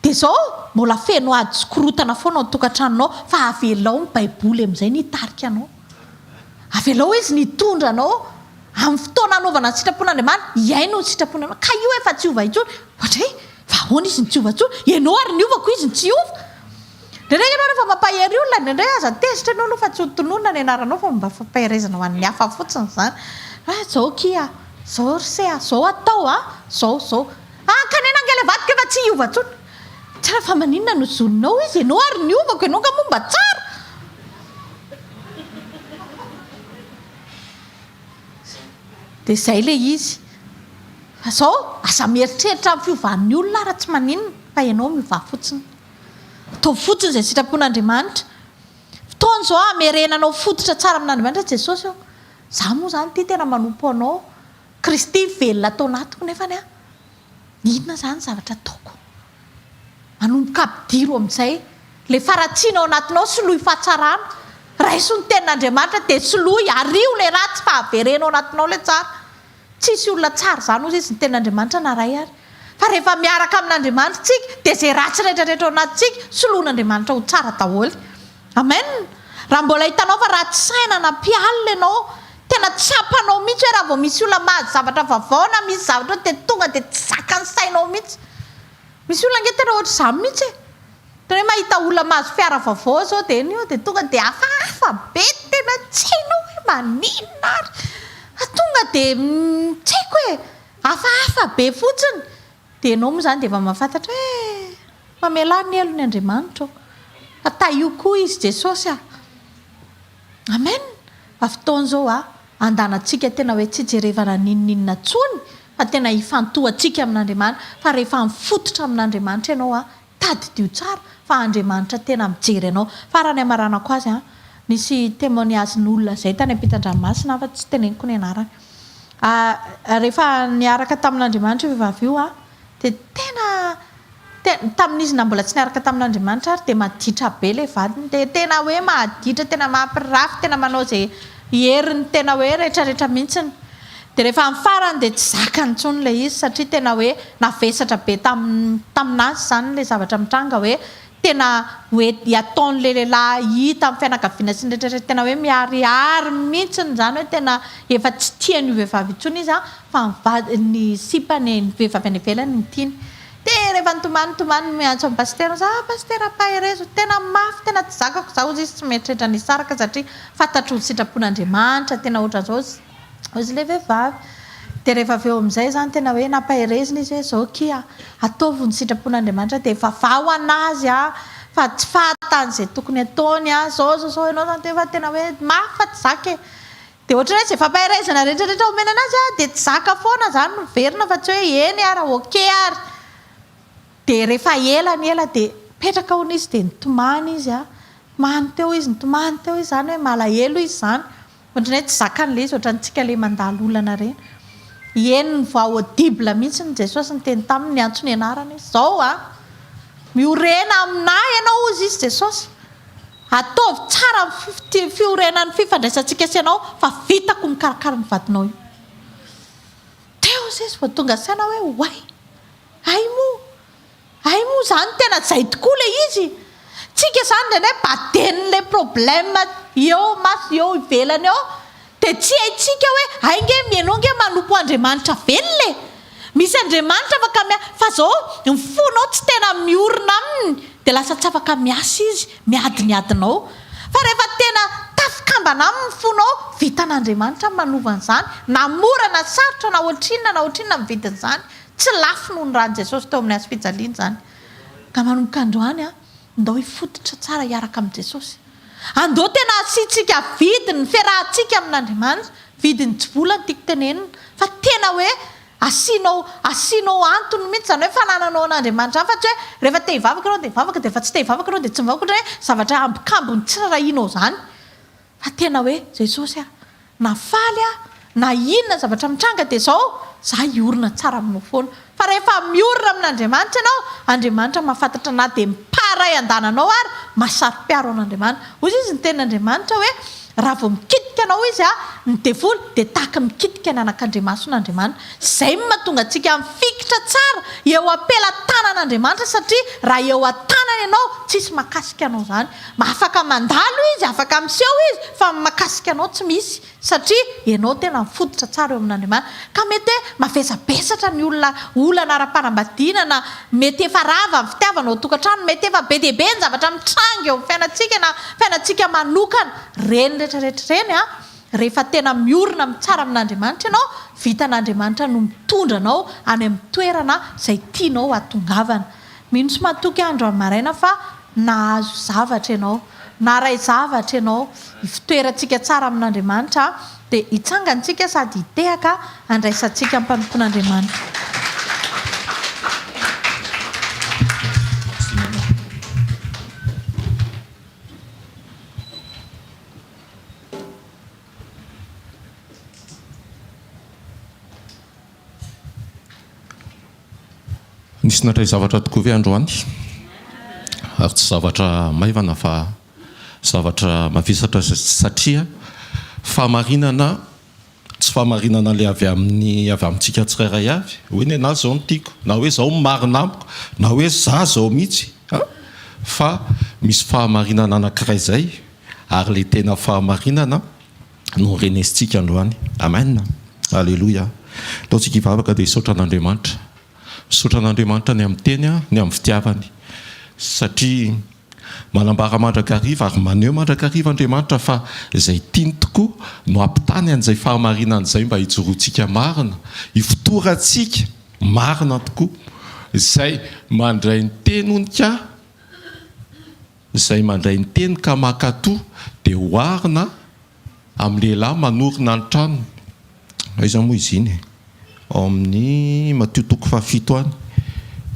dia izao, mbola feno ady sy korotana foana ao an-tokantranonao, fa avelao ny Baiboly amin'izay ny hitarika anao. Avelao Izy ny hitondra anao amin'ny fotoana anaovana ny sitrapon'Andriamanitra, hihaino ny sitrapon'Andriamanitra. Ka io efa tsy hiova intsony. Ohatra hoe, Fa ahoana izy no tsy hiova intsony? Ianao ary niova koa izy no tsy hiova? Indraindray ianao rehefa mampahery olona, indraindray aza tezitra ianao aloha fa tsy hotononina ny anaranao fa mba fampaherezana ho an'ny hafa fotsiny izany. Ah, izao akia ah, izao ry se ah, izao atao ah, izao, izao. Ankanena ange ilay vadiko efa tsy hiova intsony. Tsara fa maninona no zoninao izy? Ianao ary niovako, ianao angaha moa mba tsara? Dia izay ilay izy. Fa zao aza mieritreritra amin'ny fiovan'ny olona ara tsy maninona fa ianao miovà fotsiny. Ataovy fotsiny izay sitrapon'Andriamanitra. Fotoana izao hamerenanao fototra tsara amin'Andriamanitra Jesosy ô. Za moa zany ty tena manompo anao. Kristy velona ato anatiko nefany an! inona zany zavatra ataoko? Manomboka ampidiro amin'izay ilay faharatsiana ao anatinao, soloy fahatsarana, raiso ny tenin'Andriamanitra dia soloy, ario ilay ratsy fa avereno ao anatinao ilay tsara. Tsisy olona tsara izany hozy izy ny tenin'Andriamanitra na iray ary. Fa rehefa miaraka amin'Andriamanitra isika dia izay ratsy rehetrarehetra ao anatintsika soloin'Andriamanitra ho tsara daholo. Amen! Raha mbola hitanao fa ratsy saina na mpialona ianao, tena tsapanao mihitsy hoe raha vao misy olona mahazo zavatra vavao na misy zavatra ohatra dia tonga dia tsy zakan'ny sainao mihitsy. Misy olona ange tena ohatra izany mihitsy e! Tena hoe mahita olona mahazo fiara vavao izao dia eny eo dia tonga dia hafahafa be tena tsy hainao hoe maninona ary fa tonga dia tsy haiko e! hafahafa be fotsiny. Dia enao moa izany dia efa mahafantatra eh! Mamelà ny helony Andriamanitra ô! Fa tahio koa izy Jesosy ah! Amen! Fa fotoana izao ah, andanantsika tena hoe tsy hijerevana n'inon'inona tsony fa tena hifantohantsika amin'Andriamanitra fa rehefa mifototra amin'Andriamanitra ianao ah, Tadidio tsara fa Andriamanitra tena mijery anao. Farany hamaranako azy an! Nisy témoignage n'olona zay tany ampitandranomasina fa tsy teneniko ny anarany. Ah rehefa niaraka tamin'Andriamanitra io vehivavy io an! dia tena tena tamin'izy na mbola tsy niaraka tamin'Andriamanitra ary dia maditra be ilay vadiny dia tena hoe maditra tena mampirafy tena manao izay herin'ny tena hoe retraretra mihitsiny. Dia rehefa amin'ny farany dia tsy zakany intsony ilay izy satria tena hoe navesatra be tamin'azy izany ilay zavatra mitranga hoe tena hoe ataon'ilay lehilahy hita amin'ny fianakaviana sy ny rehetra rehetra tena hoe miharihary mihitsiny izany hoe tena efa tsy tia an'io vehivavy io intsony izy fa ny vadiny ny sipany ny vehivavy any ivelany no tiany dia rehefa nitomany nitomany no miantso an'i pasitera za ah pasitera ampaherezo tena mafy tena tsy zakako za ozy izy tsy mieritreritra ny hisaraka satria fantatro ny sitrapon'Andriamanitra tena ohatran'izao Hozy ilay vehivavy. Dia rehefa avy eo amin'izay izany tena hoe nampaherezina izy hoe izao kia, ataovy ny sitrapon'Andriamanitra dia vavaho an'azy an, fa tsy fahatany izay tokony ataony an, izao izao izao, ianao izany efa tena hoe mafy fa tsy zaka e. Dia ohatran'ny hoe izay fampaherezana rehetrarehetra omena an'azy an, dia tsy zaka foana izany no miverina fa tsy hoe eny ary ok ary. Dia rehefa ela ny ela dia mipetraka hono izy dia nitomany izy an, tomany teo izy, nitomany teo izy, izany hoe malahelo izy izany. Ohatran'ny hoe tsy zakany ilay izy, ohatran'ny antsika ilay mandalo olana ireny. Heno ny voix audible mihitsy ny Jesosy niteny taminy, niantso ny anarany hoe, Izao a! Miorena aminà ianao, hozy izy, Jesosy. Ataovy tsara ny fi-fi-, fiorenan'ny fifandraisantsika sy ianao, fa vitako ny mikarakara ny vadinao io. Teo Jesosy vao tonga saina hoe, Oay! Hay moa! Hay moa zany tena zay tokoa le izy e! Tsika zany indraindray baden le problème eo maso eo ivelany eo de tsy haintsika hoe hay nge mianao nge manompo Andriamanitra velona e! Misy Andriamanitra afaka mia fa zao ny fonao tsy tena miorina aminy de lasa tsy afaka miasa izy miadin'adina ao fa rehefa tena tafikambana aminy ny fonao vitan'Andriamanitra ny manova an'izany na mora na sarotra na ohatrinona na ohatrinona ny vidin'izany Tsy lafo noho ny ran'i Jesosy teo amin'ny hazo fijaliana izany. Ka manomboka androany, ndao hifototra tsara hiaraka amin'i Jesosy. Andao tena hasiantsika vidiny ny fiarahantsika amin'Andriamanitra. Vidiny tsy vola no tiako tenenina, fa tena hoe asianao asianao antony mihitsy izany hoe fanananao an'Andriamanitra izany, fa tsy hoe rehefa te hivavaka ianao dia hivavaka, dia rehefa tsy te hivavaka ianao dia tsy mivavaka, ohatran'ny hoe zavatra ambokambon'ny tsy rahinao izany. Fa tena hoe Jesosy ah! Na faly ah! Na inona zavatra mitranga dia izao za hiorina tsara aminao foana! Fa rehefa miorina amin'Andriamanitra ianao, Andriamanitra mahafantatra na dia ny pas iray andananao ary, mahasaro-piaro an'Andriamanitra. Hoy izy ny tenin'Andriamanitra hoe, raha vao mikitika anao izy ah! ny devoly dia tahaka ny mikitika ny anakandriamason'Andriamanitra. Izay no mahatonga antsika mifikitra tsara eo am-pelatanan'Andriamanitra satria raha eo an-tanany ianao, tsisy mahakasika anao izany. Afaka mandalo izy, afaka miseho izy, fa ny makasika anao tsy misy, satria ianao tena mifototra tsara eo amin'Andriamanitra. Ka mety hoe mavesabesatra ny olona olana ara-panambadiana na mety efa rava ny fitiavana ao an-tokantrano, mety efa be dia be ny zavatra mitranga eo amin'ny fiainantsika na fiainantsika manokana. Ireny rehetrarehetra ireny an, rehefa tena miorina amin'ny tsara amin'Andriamanitra ianao, vitan'Andriamanitra no mitondra anao any amin'ny toerana izay tianao hatongavana. Mino sy matoky andro amin'ny maraina fa nahazo zavatra ianao, naharay zavatra ianao, ifotoerantsika tsara amin'Andriamanitra dia hitsangantsika sady hitehaka handraisantsika am-panompoan'Andriamanitra. Nisy nandray zavatra tokoa ve androany? Ary tsy zavatra maivana fa zavatra mavesatra satria fahamarinana tsy fahamarinana ilay avy amin'ny avy amintsika tsirairay avy hoe ny anah izao no tiako na hoe izao no marina amiko na hoe izaho izao mihitsy a! fa misy fahamarinana anankiray izay ary ilay tena fahamarinana no renesintsika androany. Amen! Aleloia! Ataontsika hivavaka dia hisaotra an'Andriamanitra. Misaotra an'Andriamanitra ny amin'ny Teny, ny amin'ny fitiavany. Satria manambara mandrakariva ary maneho mandrakariva Andriamanitra fa izay tiany tokoa no hampitany an'izay fahamarinany izay mba hijoroantsika marina, hifotorantsika marina tokoa. Izay mandray ny Tenony ka. Izay mandray ny teny ka mankatò dia oharina amin'ny lehilahy manorina ny tranony. Aiza moa izy iny e? Ao amin'ny Matio toko fahafito any.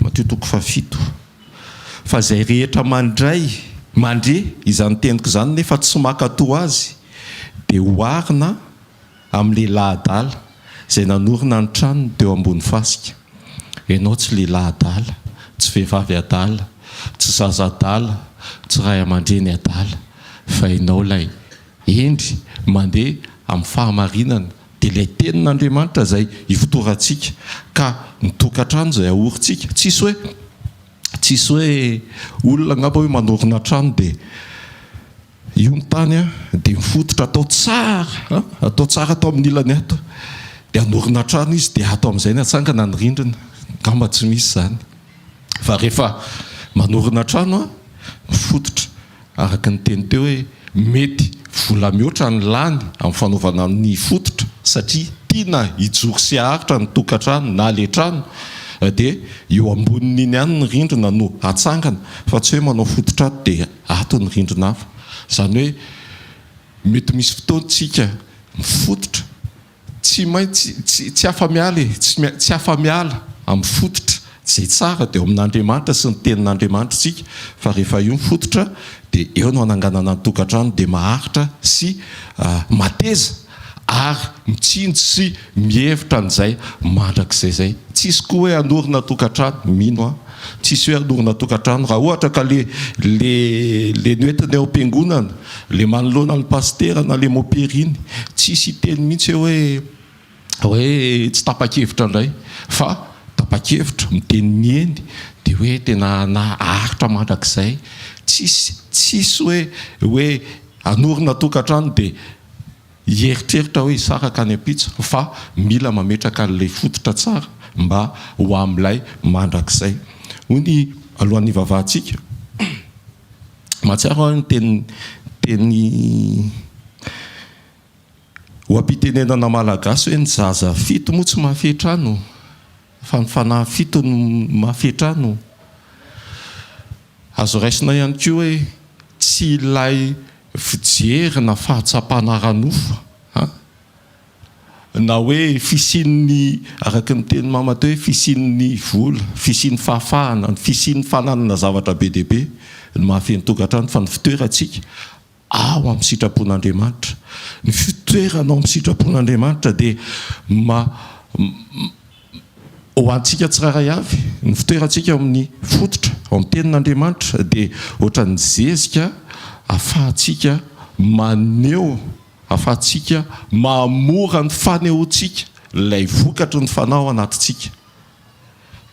Matio toko fahafito. Fa izay rehetra mandray, mandre, izany teniko izany nefa tsy mankatò azy dia oharina. Amin'ny lehilahy adala izay nanorina ny tranony teo ambony fasika. Ianao tsy lehilahy adala, tsy vehivavy adala, tsy zaza adala, tsy ray aman-dreny adala, fa ianao ilay hendry mandeha amin'ny fahamarinana, dia ilay Tenin'Andriamanitra izay ifotorantsika, ka ny tokantrano izay ahorintsika. Tsisy hoe, tsisy hoe olona angamba hoe manorina trano dia. Io ny tany an, dia ny fototra atao tsara an, atao tsara ato amin'ny ilany ato, dia hanorina trano izy dia ato amin'izay ny hatsangana ny rindrina, angamba tsy misy izany fa rehefa manorina trano an, ny fototra araka ny teny teo hoe mety vola mihoatra ny lany amin'ny fanaovana ny fototra satria tiana hijoro sy haharitra ny tokantrano na ilay trano dia eo ambonin'iny ihany ny rindrina no hatsangana fa tsy hoe manao fototra ato dia Ato ny rindrina hafa. Izany hoe mety misy fotoan-tsika mifototra, tsy maintsy, tsy, tsy afa-miala e, tsy main, tsy afa-miala amin'ny fototra. Izay tsara dia ao amin'Andriamanitra sy ny Tenin'Andriamanitra isika, fa rehefa io ny fototra dia eo no ananganana ny tokantrano dia maharitra sy mateza. ary mitsinjo sy mihevitra an'izay mandrakizay izay. Tsisy koa hoe hanorina tokantrano, mino aho, tsisy hoe hanorina tokantrano, raha ohatra ka le le le noentina eo am-piangonana, le manoloana ny pasitera na le mopiriny, tsisy hiteny mihitsy eo hoe hoe tsy tapa-kevitra indray, fa tapa-kevitra, miteny ny eny, dia hoe tena naharitra mandrakizay, tsisy tsisy hoe hoe hanorina tokantrano dia hieritreritra hoe hisaraka any am-pitso fa mila mametraka an'ilay fototra tsara mba ho amin'ilay mandrakizay. Hoy ny alohan'ny hivavahantsika, mahatsiaro aho ny teny oha-pitenenana malagasy hoe ny zaza fito moa tsy mahafehy trano. Fa ny fanahy fito no mafy hatrany ô! Azo raisina ihany koa hoe tsy ilay fijery na fahatsapana ara-nofo an! Na hoe fisian'ny, araka ny tenin'i Mama teo hoe fisian'ny vola, fisian'ny fahafahana, ny fisian'ny fananana zavatra be dia be no mahafeno tokantrano fa ny fitoerantsika ao amin'ny sitrapon'Andriamanitra. Ny fitoerana ao amin'ny sitrapon'Andriamanitra dia ma ho antsika tsirairay avy, ny fitoerantsika ao amin'ny fototra, ao amin'ny tenin'Andriamanitra dia ohatran'ny zezika ahafahantsika maneho, ahafahantsika mahamora ny fanehoantsika ilay vokatry ny fanao anatintsika.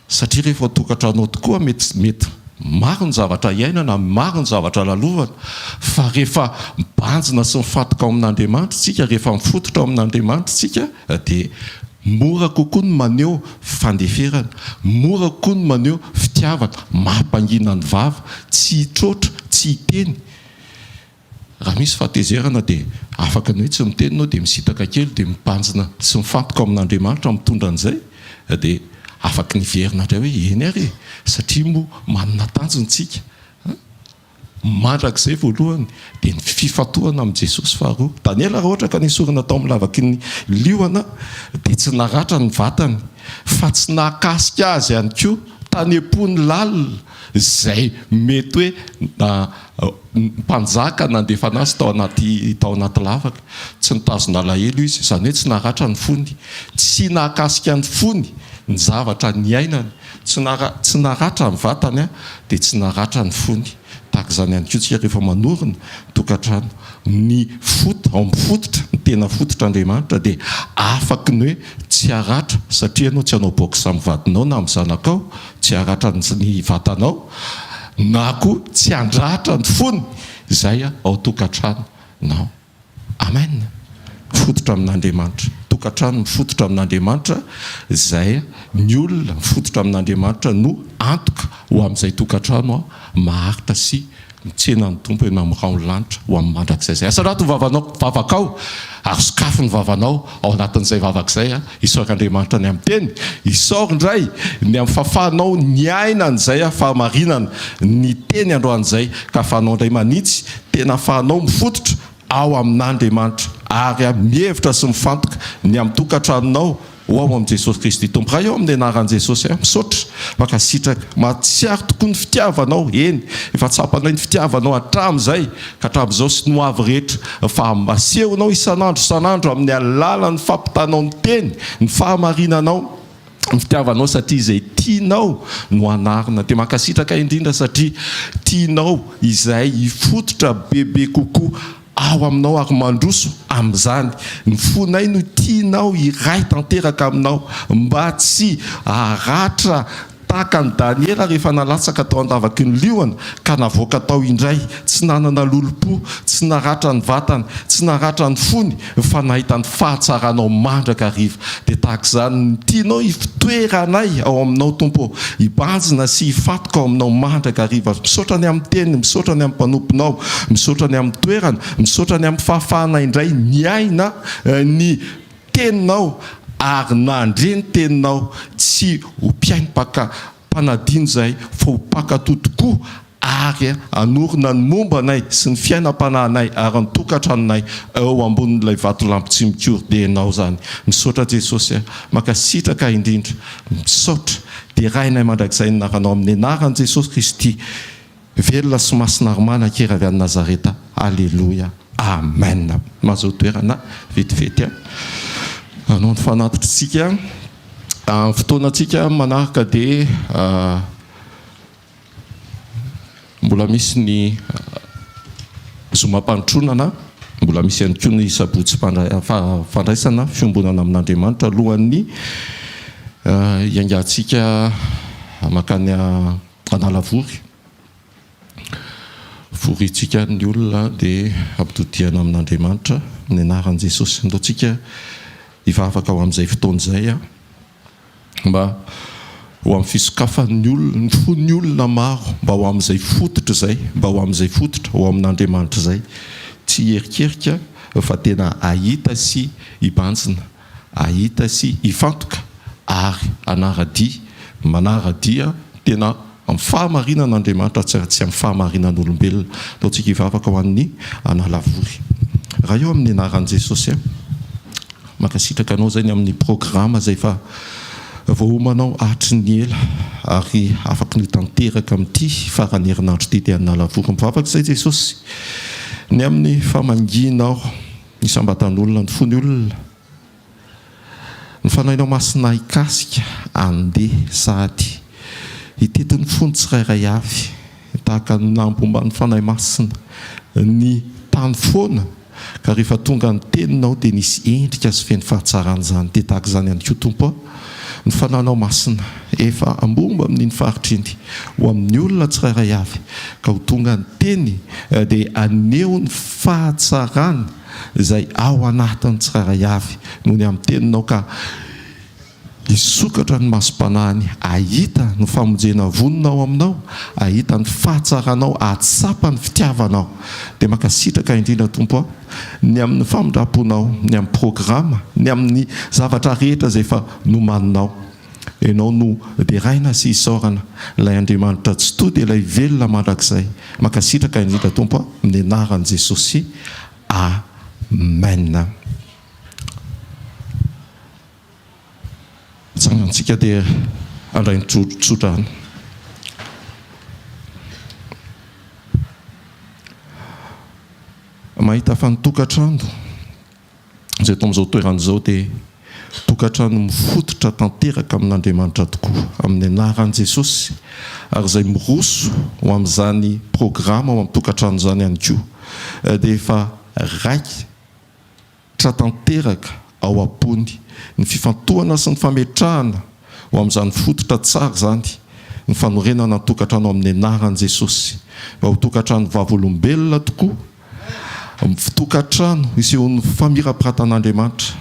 Satria rehefa ao an-tokantrano ao tokoa mety mety maro ny zavatra iainana, maro ny zavatra lalovana, fa rehefa mibanjina sy mifantoka ao amin'Andriamanitra isika, rehefa mifototra ao amin'Andriamanitra isika dia mora kokoa ny maneho fandeferana, mora kokoa ny maneho fitiavana, mampangina ny vava, tsy hitroatra, tsy hiteny. Raha misy fahatezerana dia afaka ny hoe tsy miteny ianao dia misitaka kely dia mibanjina sy mifantoka amin'Andriamanitra mitondra an'izay dia afaka niverina indray hoe eny ary e! satria moa manana tanjona isika an! mandrakizay voalohany dia ny fifantohana amin'i Jesosy faharoa. Daniela raha ohatra ka nesorina tao amin'ny lavaky ny liona dia tsy naratra ny vatany fa tsy nahakasika azy ihany koa tanem-pony lalina izay mety hoe mpanjaka nandefa anazy tao anaty tao anaty lavaka, tsy nitazona alahelo izy, izany hoe tsy naratra ny fony, tsy nahakasika ny fony ny zavatra niainany, tsy tsy naratra ny vatany dia tsy naratra ny fony, tahaka izany ihany koa isika rehefa manorina tokantrano, ny fot- ao amin'ny fototra ny tena fototr'Andriamanitra dia afaky ny hoe tsy haratra satria ianao tsy hanao box amin'ny vadinao na amin'ny zanakao, Tsy haratra ny vatanao na koa tsy handratra ny fony izay ao tokantrano nao. Amen! Mifototra amin'Andriamanitra. Tokantrano mifototra amin'Andriamanitra izay ny olona mifototra amin'Andriamanitra no antoka ho amin'izay tokantrano maharitra sy Mitsena ny Tompo eny amin'ny rahon'ny lanitra ho amin'ny mandrakizay izay. Asa anaty ny vavanao, vavakao, ary sokafy ny vavanao ao anatin'izay vavaka izay. Isaory Andriamanitra ny amin'ny Teny. Isaory indray ny amin'ny fahafahanao niaina an'izay fahamarinana, ny Teny androany izay, ka ahafahanao indray manitsy tena ahafahanao mifototra ao amin'Andriamanitra ary mihevitra sy mifantoka ny amin'ny tokantranonao ho ao amin'i Jesosy Kristy Tompo Ray ô amin'ny anaran'i Jesosy a misaotra mankasitraka mahatsiaro tokoa ny fitiavanao eny efa tsapanay ny fitiavanao hatramin'izay ka hatramin'izao sy ny ho avy rehetra fa asehonao isan'andro isan'andro amin'ny alalan'ny fampitanao ny teny ny fahamarinanao fitiavanao satria izay tianao no anarina dia mankasitraka indrindra satria tianao izay hifototra bebe kokoa ao aminao ary mandroso amin'izany ny fonay no tianao hiray tanteraka aminao mba tsy haratra tahaka an'i Daniela rehefa nalatsaka tao an-davaky ny liona ka navoaka tao indray tsy nanana lolompo tsy naratra ny vatany tsy naratra ny fony Fa nahita ny fahatsaranao mandrakariva, dia tahaka izany ny tianao hifotoera anay ao aminao, Tompo ô. Hibanjina sy hifantoka ao aminao mandrakariva. Misaotra ny amin'ny Teniny, misaotra ny amin'ny mpanomponao, misaotra ny amin'ny toerana, misaotra ny amin'ny fahafahanay indray niaina ny Teninao ary nandre ny Teninao, tsy ho mpiaimpaka mpanadino izahay fa ho mpankatò tokoa ary hanorina ny momba anay sy ny fiainam-panahinay ary ny tokantranonay eo ambonin'ilay vatolampy tsy mikory dia ianao izany misaotra Jesosy a mankasitraka indrindra misaotra derainay mandrakizay ny naranao amin'ny anaran'i Jesosy Kristy velona sy masina ary manan-kery avy any Nazareta aleloia amen mazoa toerana vetivety a anao ny fanatitrintsika amin'ny fotoanantsika manaraka dia Mbola misy ny zomam-pandrotronana, mbola misy ihany koa ny sabotsy fandraisana fiombonana amin'Andriamanitra alohan'ny hiaingantsika mankany Analavory. Foriantsika ny olona dia hampitodihana amin'Andriamanitra ny anaran'i Jesosy. Aleontsika hivavaka ho amin'izay fotoana izay. mba ho amin'ny fisokafan'ny olona, ny fon'ny olona maro mba ho amin'izay fototra izay, mba ho amin'izay fototra, ho amin'Andriamanitra izay. Tsy hiherikerika fa tena hahita sy hibanjina, hahita sy hifantoka ary hanara-dia, manara-dia tena. Amin'ny fahamarinana Andriamanitra tsy amin'ny fahamarinan'olombelona. Ataontsika hivavaka ho an'ny Analavory. Ray ô amin'ny anaran'i Jesosy a! Mankasitraka Anao izay ny amin'ny programa izay efa voaomanao hatry ny ela ary afaky nitanteraka amin'ity faran'ny herinandro ity dia Analavory. Mivavaka izay Jesosy ny amin'ny famangianao isam-batan'olona ny fony olona. Ny fanahinao masina hikasika andeha sahady hitety ny fon'ny tsirairay avy tahaka ny nahambomban'ny Fanahy Masina ny tany foana ka rehefa tonga ny teninao dia nisy endrika sy feno fahatsarana izany dia tahaka izany ihany koa Tompo a ny Fanahinao Masina efa ambomba amin'iny faritra iny ho amin'ny olona tsirairay avy ka ho tonga ny teny dia aneho ny fahatsarany izay ao anatiny tsirairay avy no ny amin'ny teninao ka hisokatra ny masom-panahiny hahita ny famonjena vonona ao aminao hahita ny fahatsaranao hahatsapa ny fitiavanao dia mankasitraka indrindra Tompo a ny amin'ny famindramponao ny amin'ny programa ny amin'ny zavatra rehetra izay efa nomaninao Ianao no deraina sy isaorana, Ilay Andriamanitra tsy tody, Ilay velona mandrakizay. Mankasitraka indrindra Tompo a, amin'ny anaran'i Jesosy, Amen. Tsangantsika dia handray ny tsodrano. Mahita fa ny tokantrano. izay eto amin'izao toerana izao dia tokantrano mifototra tanteraka amin'Andriamanitra tokoa, amin'ny anaran'i Jesosy, ary izay miroso ho amin'izany programa ao amin'ny tokantrano izany ihany koa dia efa raikitra tanteraka ao am-pony ny fifantohana sy ny fametrahana ho amin'izany fototra tsara izany ny fanorenana ny tokantrano amin'ny anaran'i Jesosy, mba ho tokantrano vavolombelona tokoa. Tokantrano isehoan'ny famirapiratan'Andriamanitra,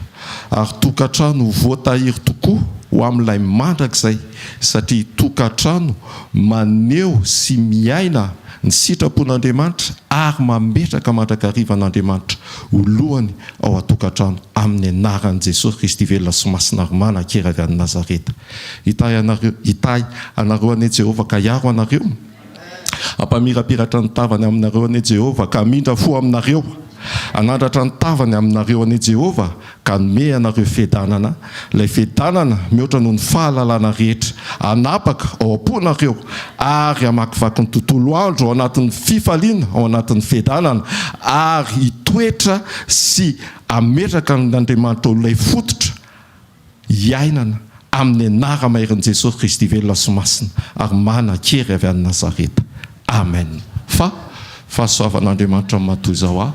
ary tokantrano ho voatahiry tokoa ho amin'ilay mandrakizay, satria tokantrano maneho sy miaina ny sitrapon'Andriamanitra ary mametraka mandrakariva an'Andriamanitra ho lohany ao an-tokantrano amin'ny anaran'i Jesosy Kristy velona sy masina ary manan-kery avy any Nazareta. Hitahy anareo an'i Jehovah ka hiaro anareo. Hampamirapiratra ny tavany aminareo anie Jehovah, ka hamindra fo aminareo. Hanandratra ny tavany aminareo anie Jehovah, ka hanome anareo fiadanana, ilay fiadanana mihoatra noho ny fahalalana rehetra. Hanapaka ao am-ponareo ary hamakivaky ny tontolo andro ao anatin'ny fifaliana, ao anatin'ny fiadanana, ary hitoetra sy hametraka an'Andriamanitra ho ilay fototra, iainana amin' ny anara-mairin' Jesosy Kristy velona sy masina ary mana kery avy any Nazareta. Amen. Fa fahasoavan' Andriamanitra matoa izao aho.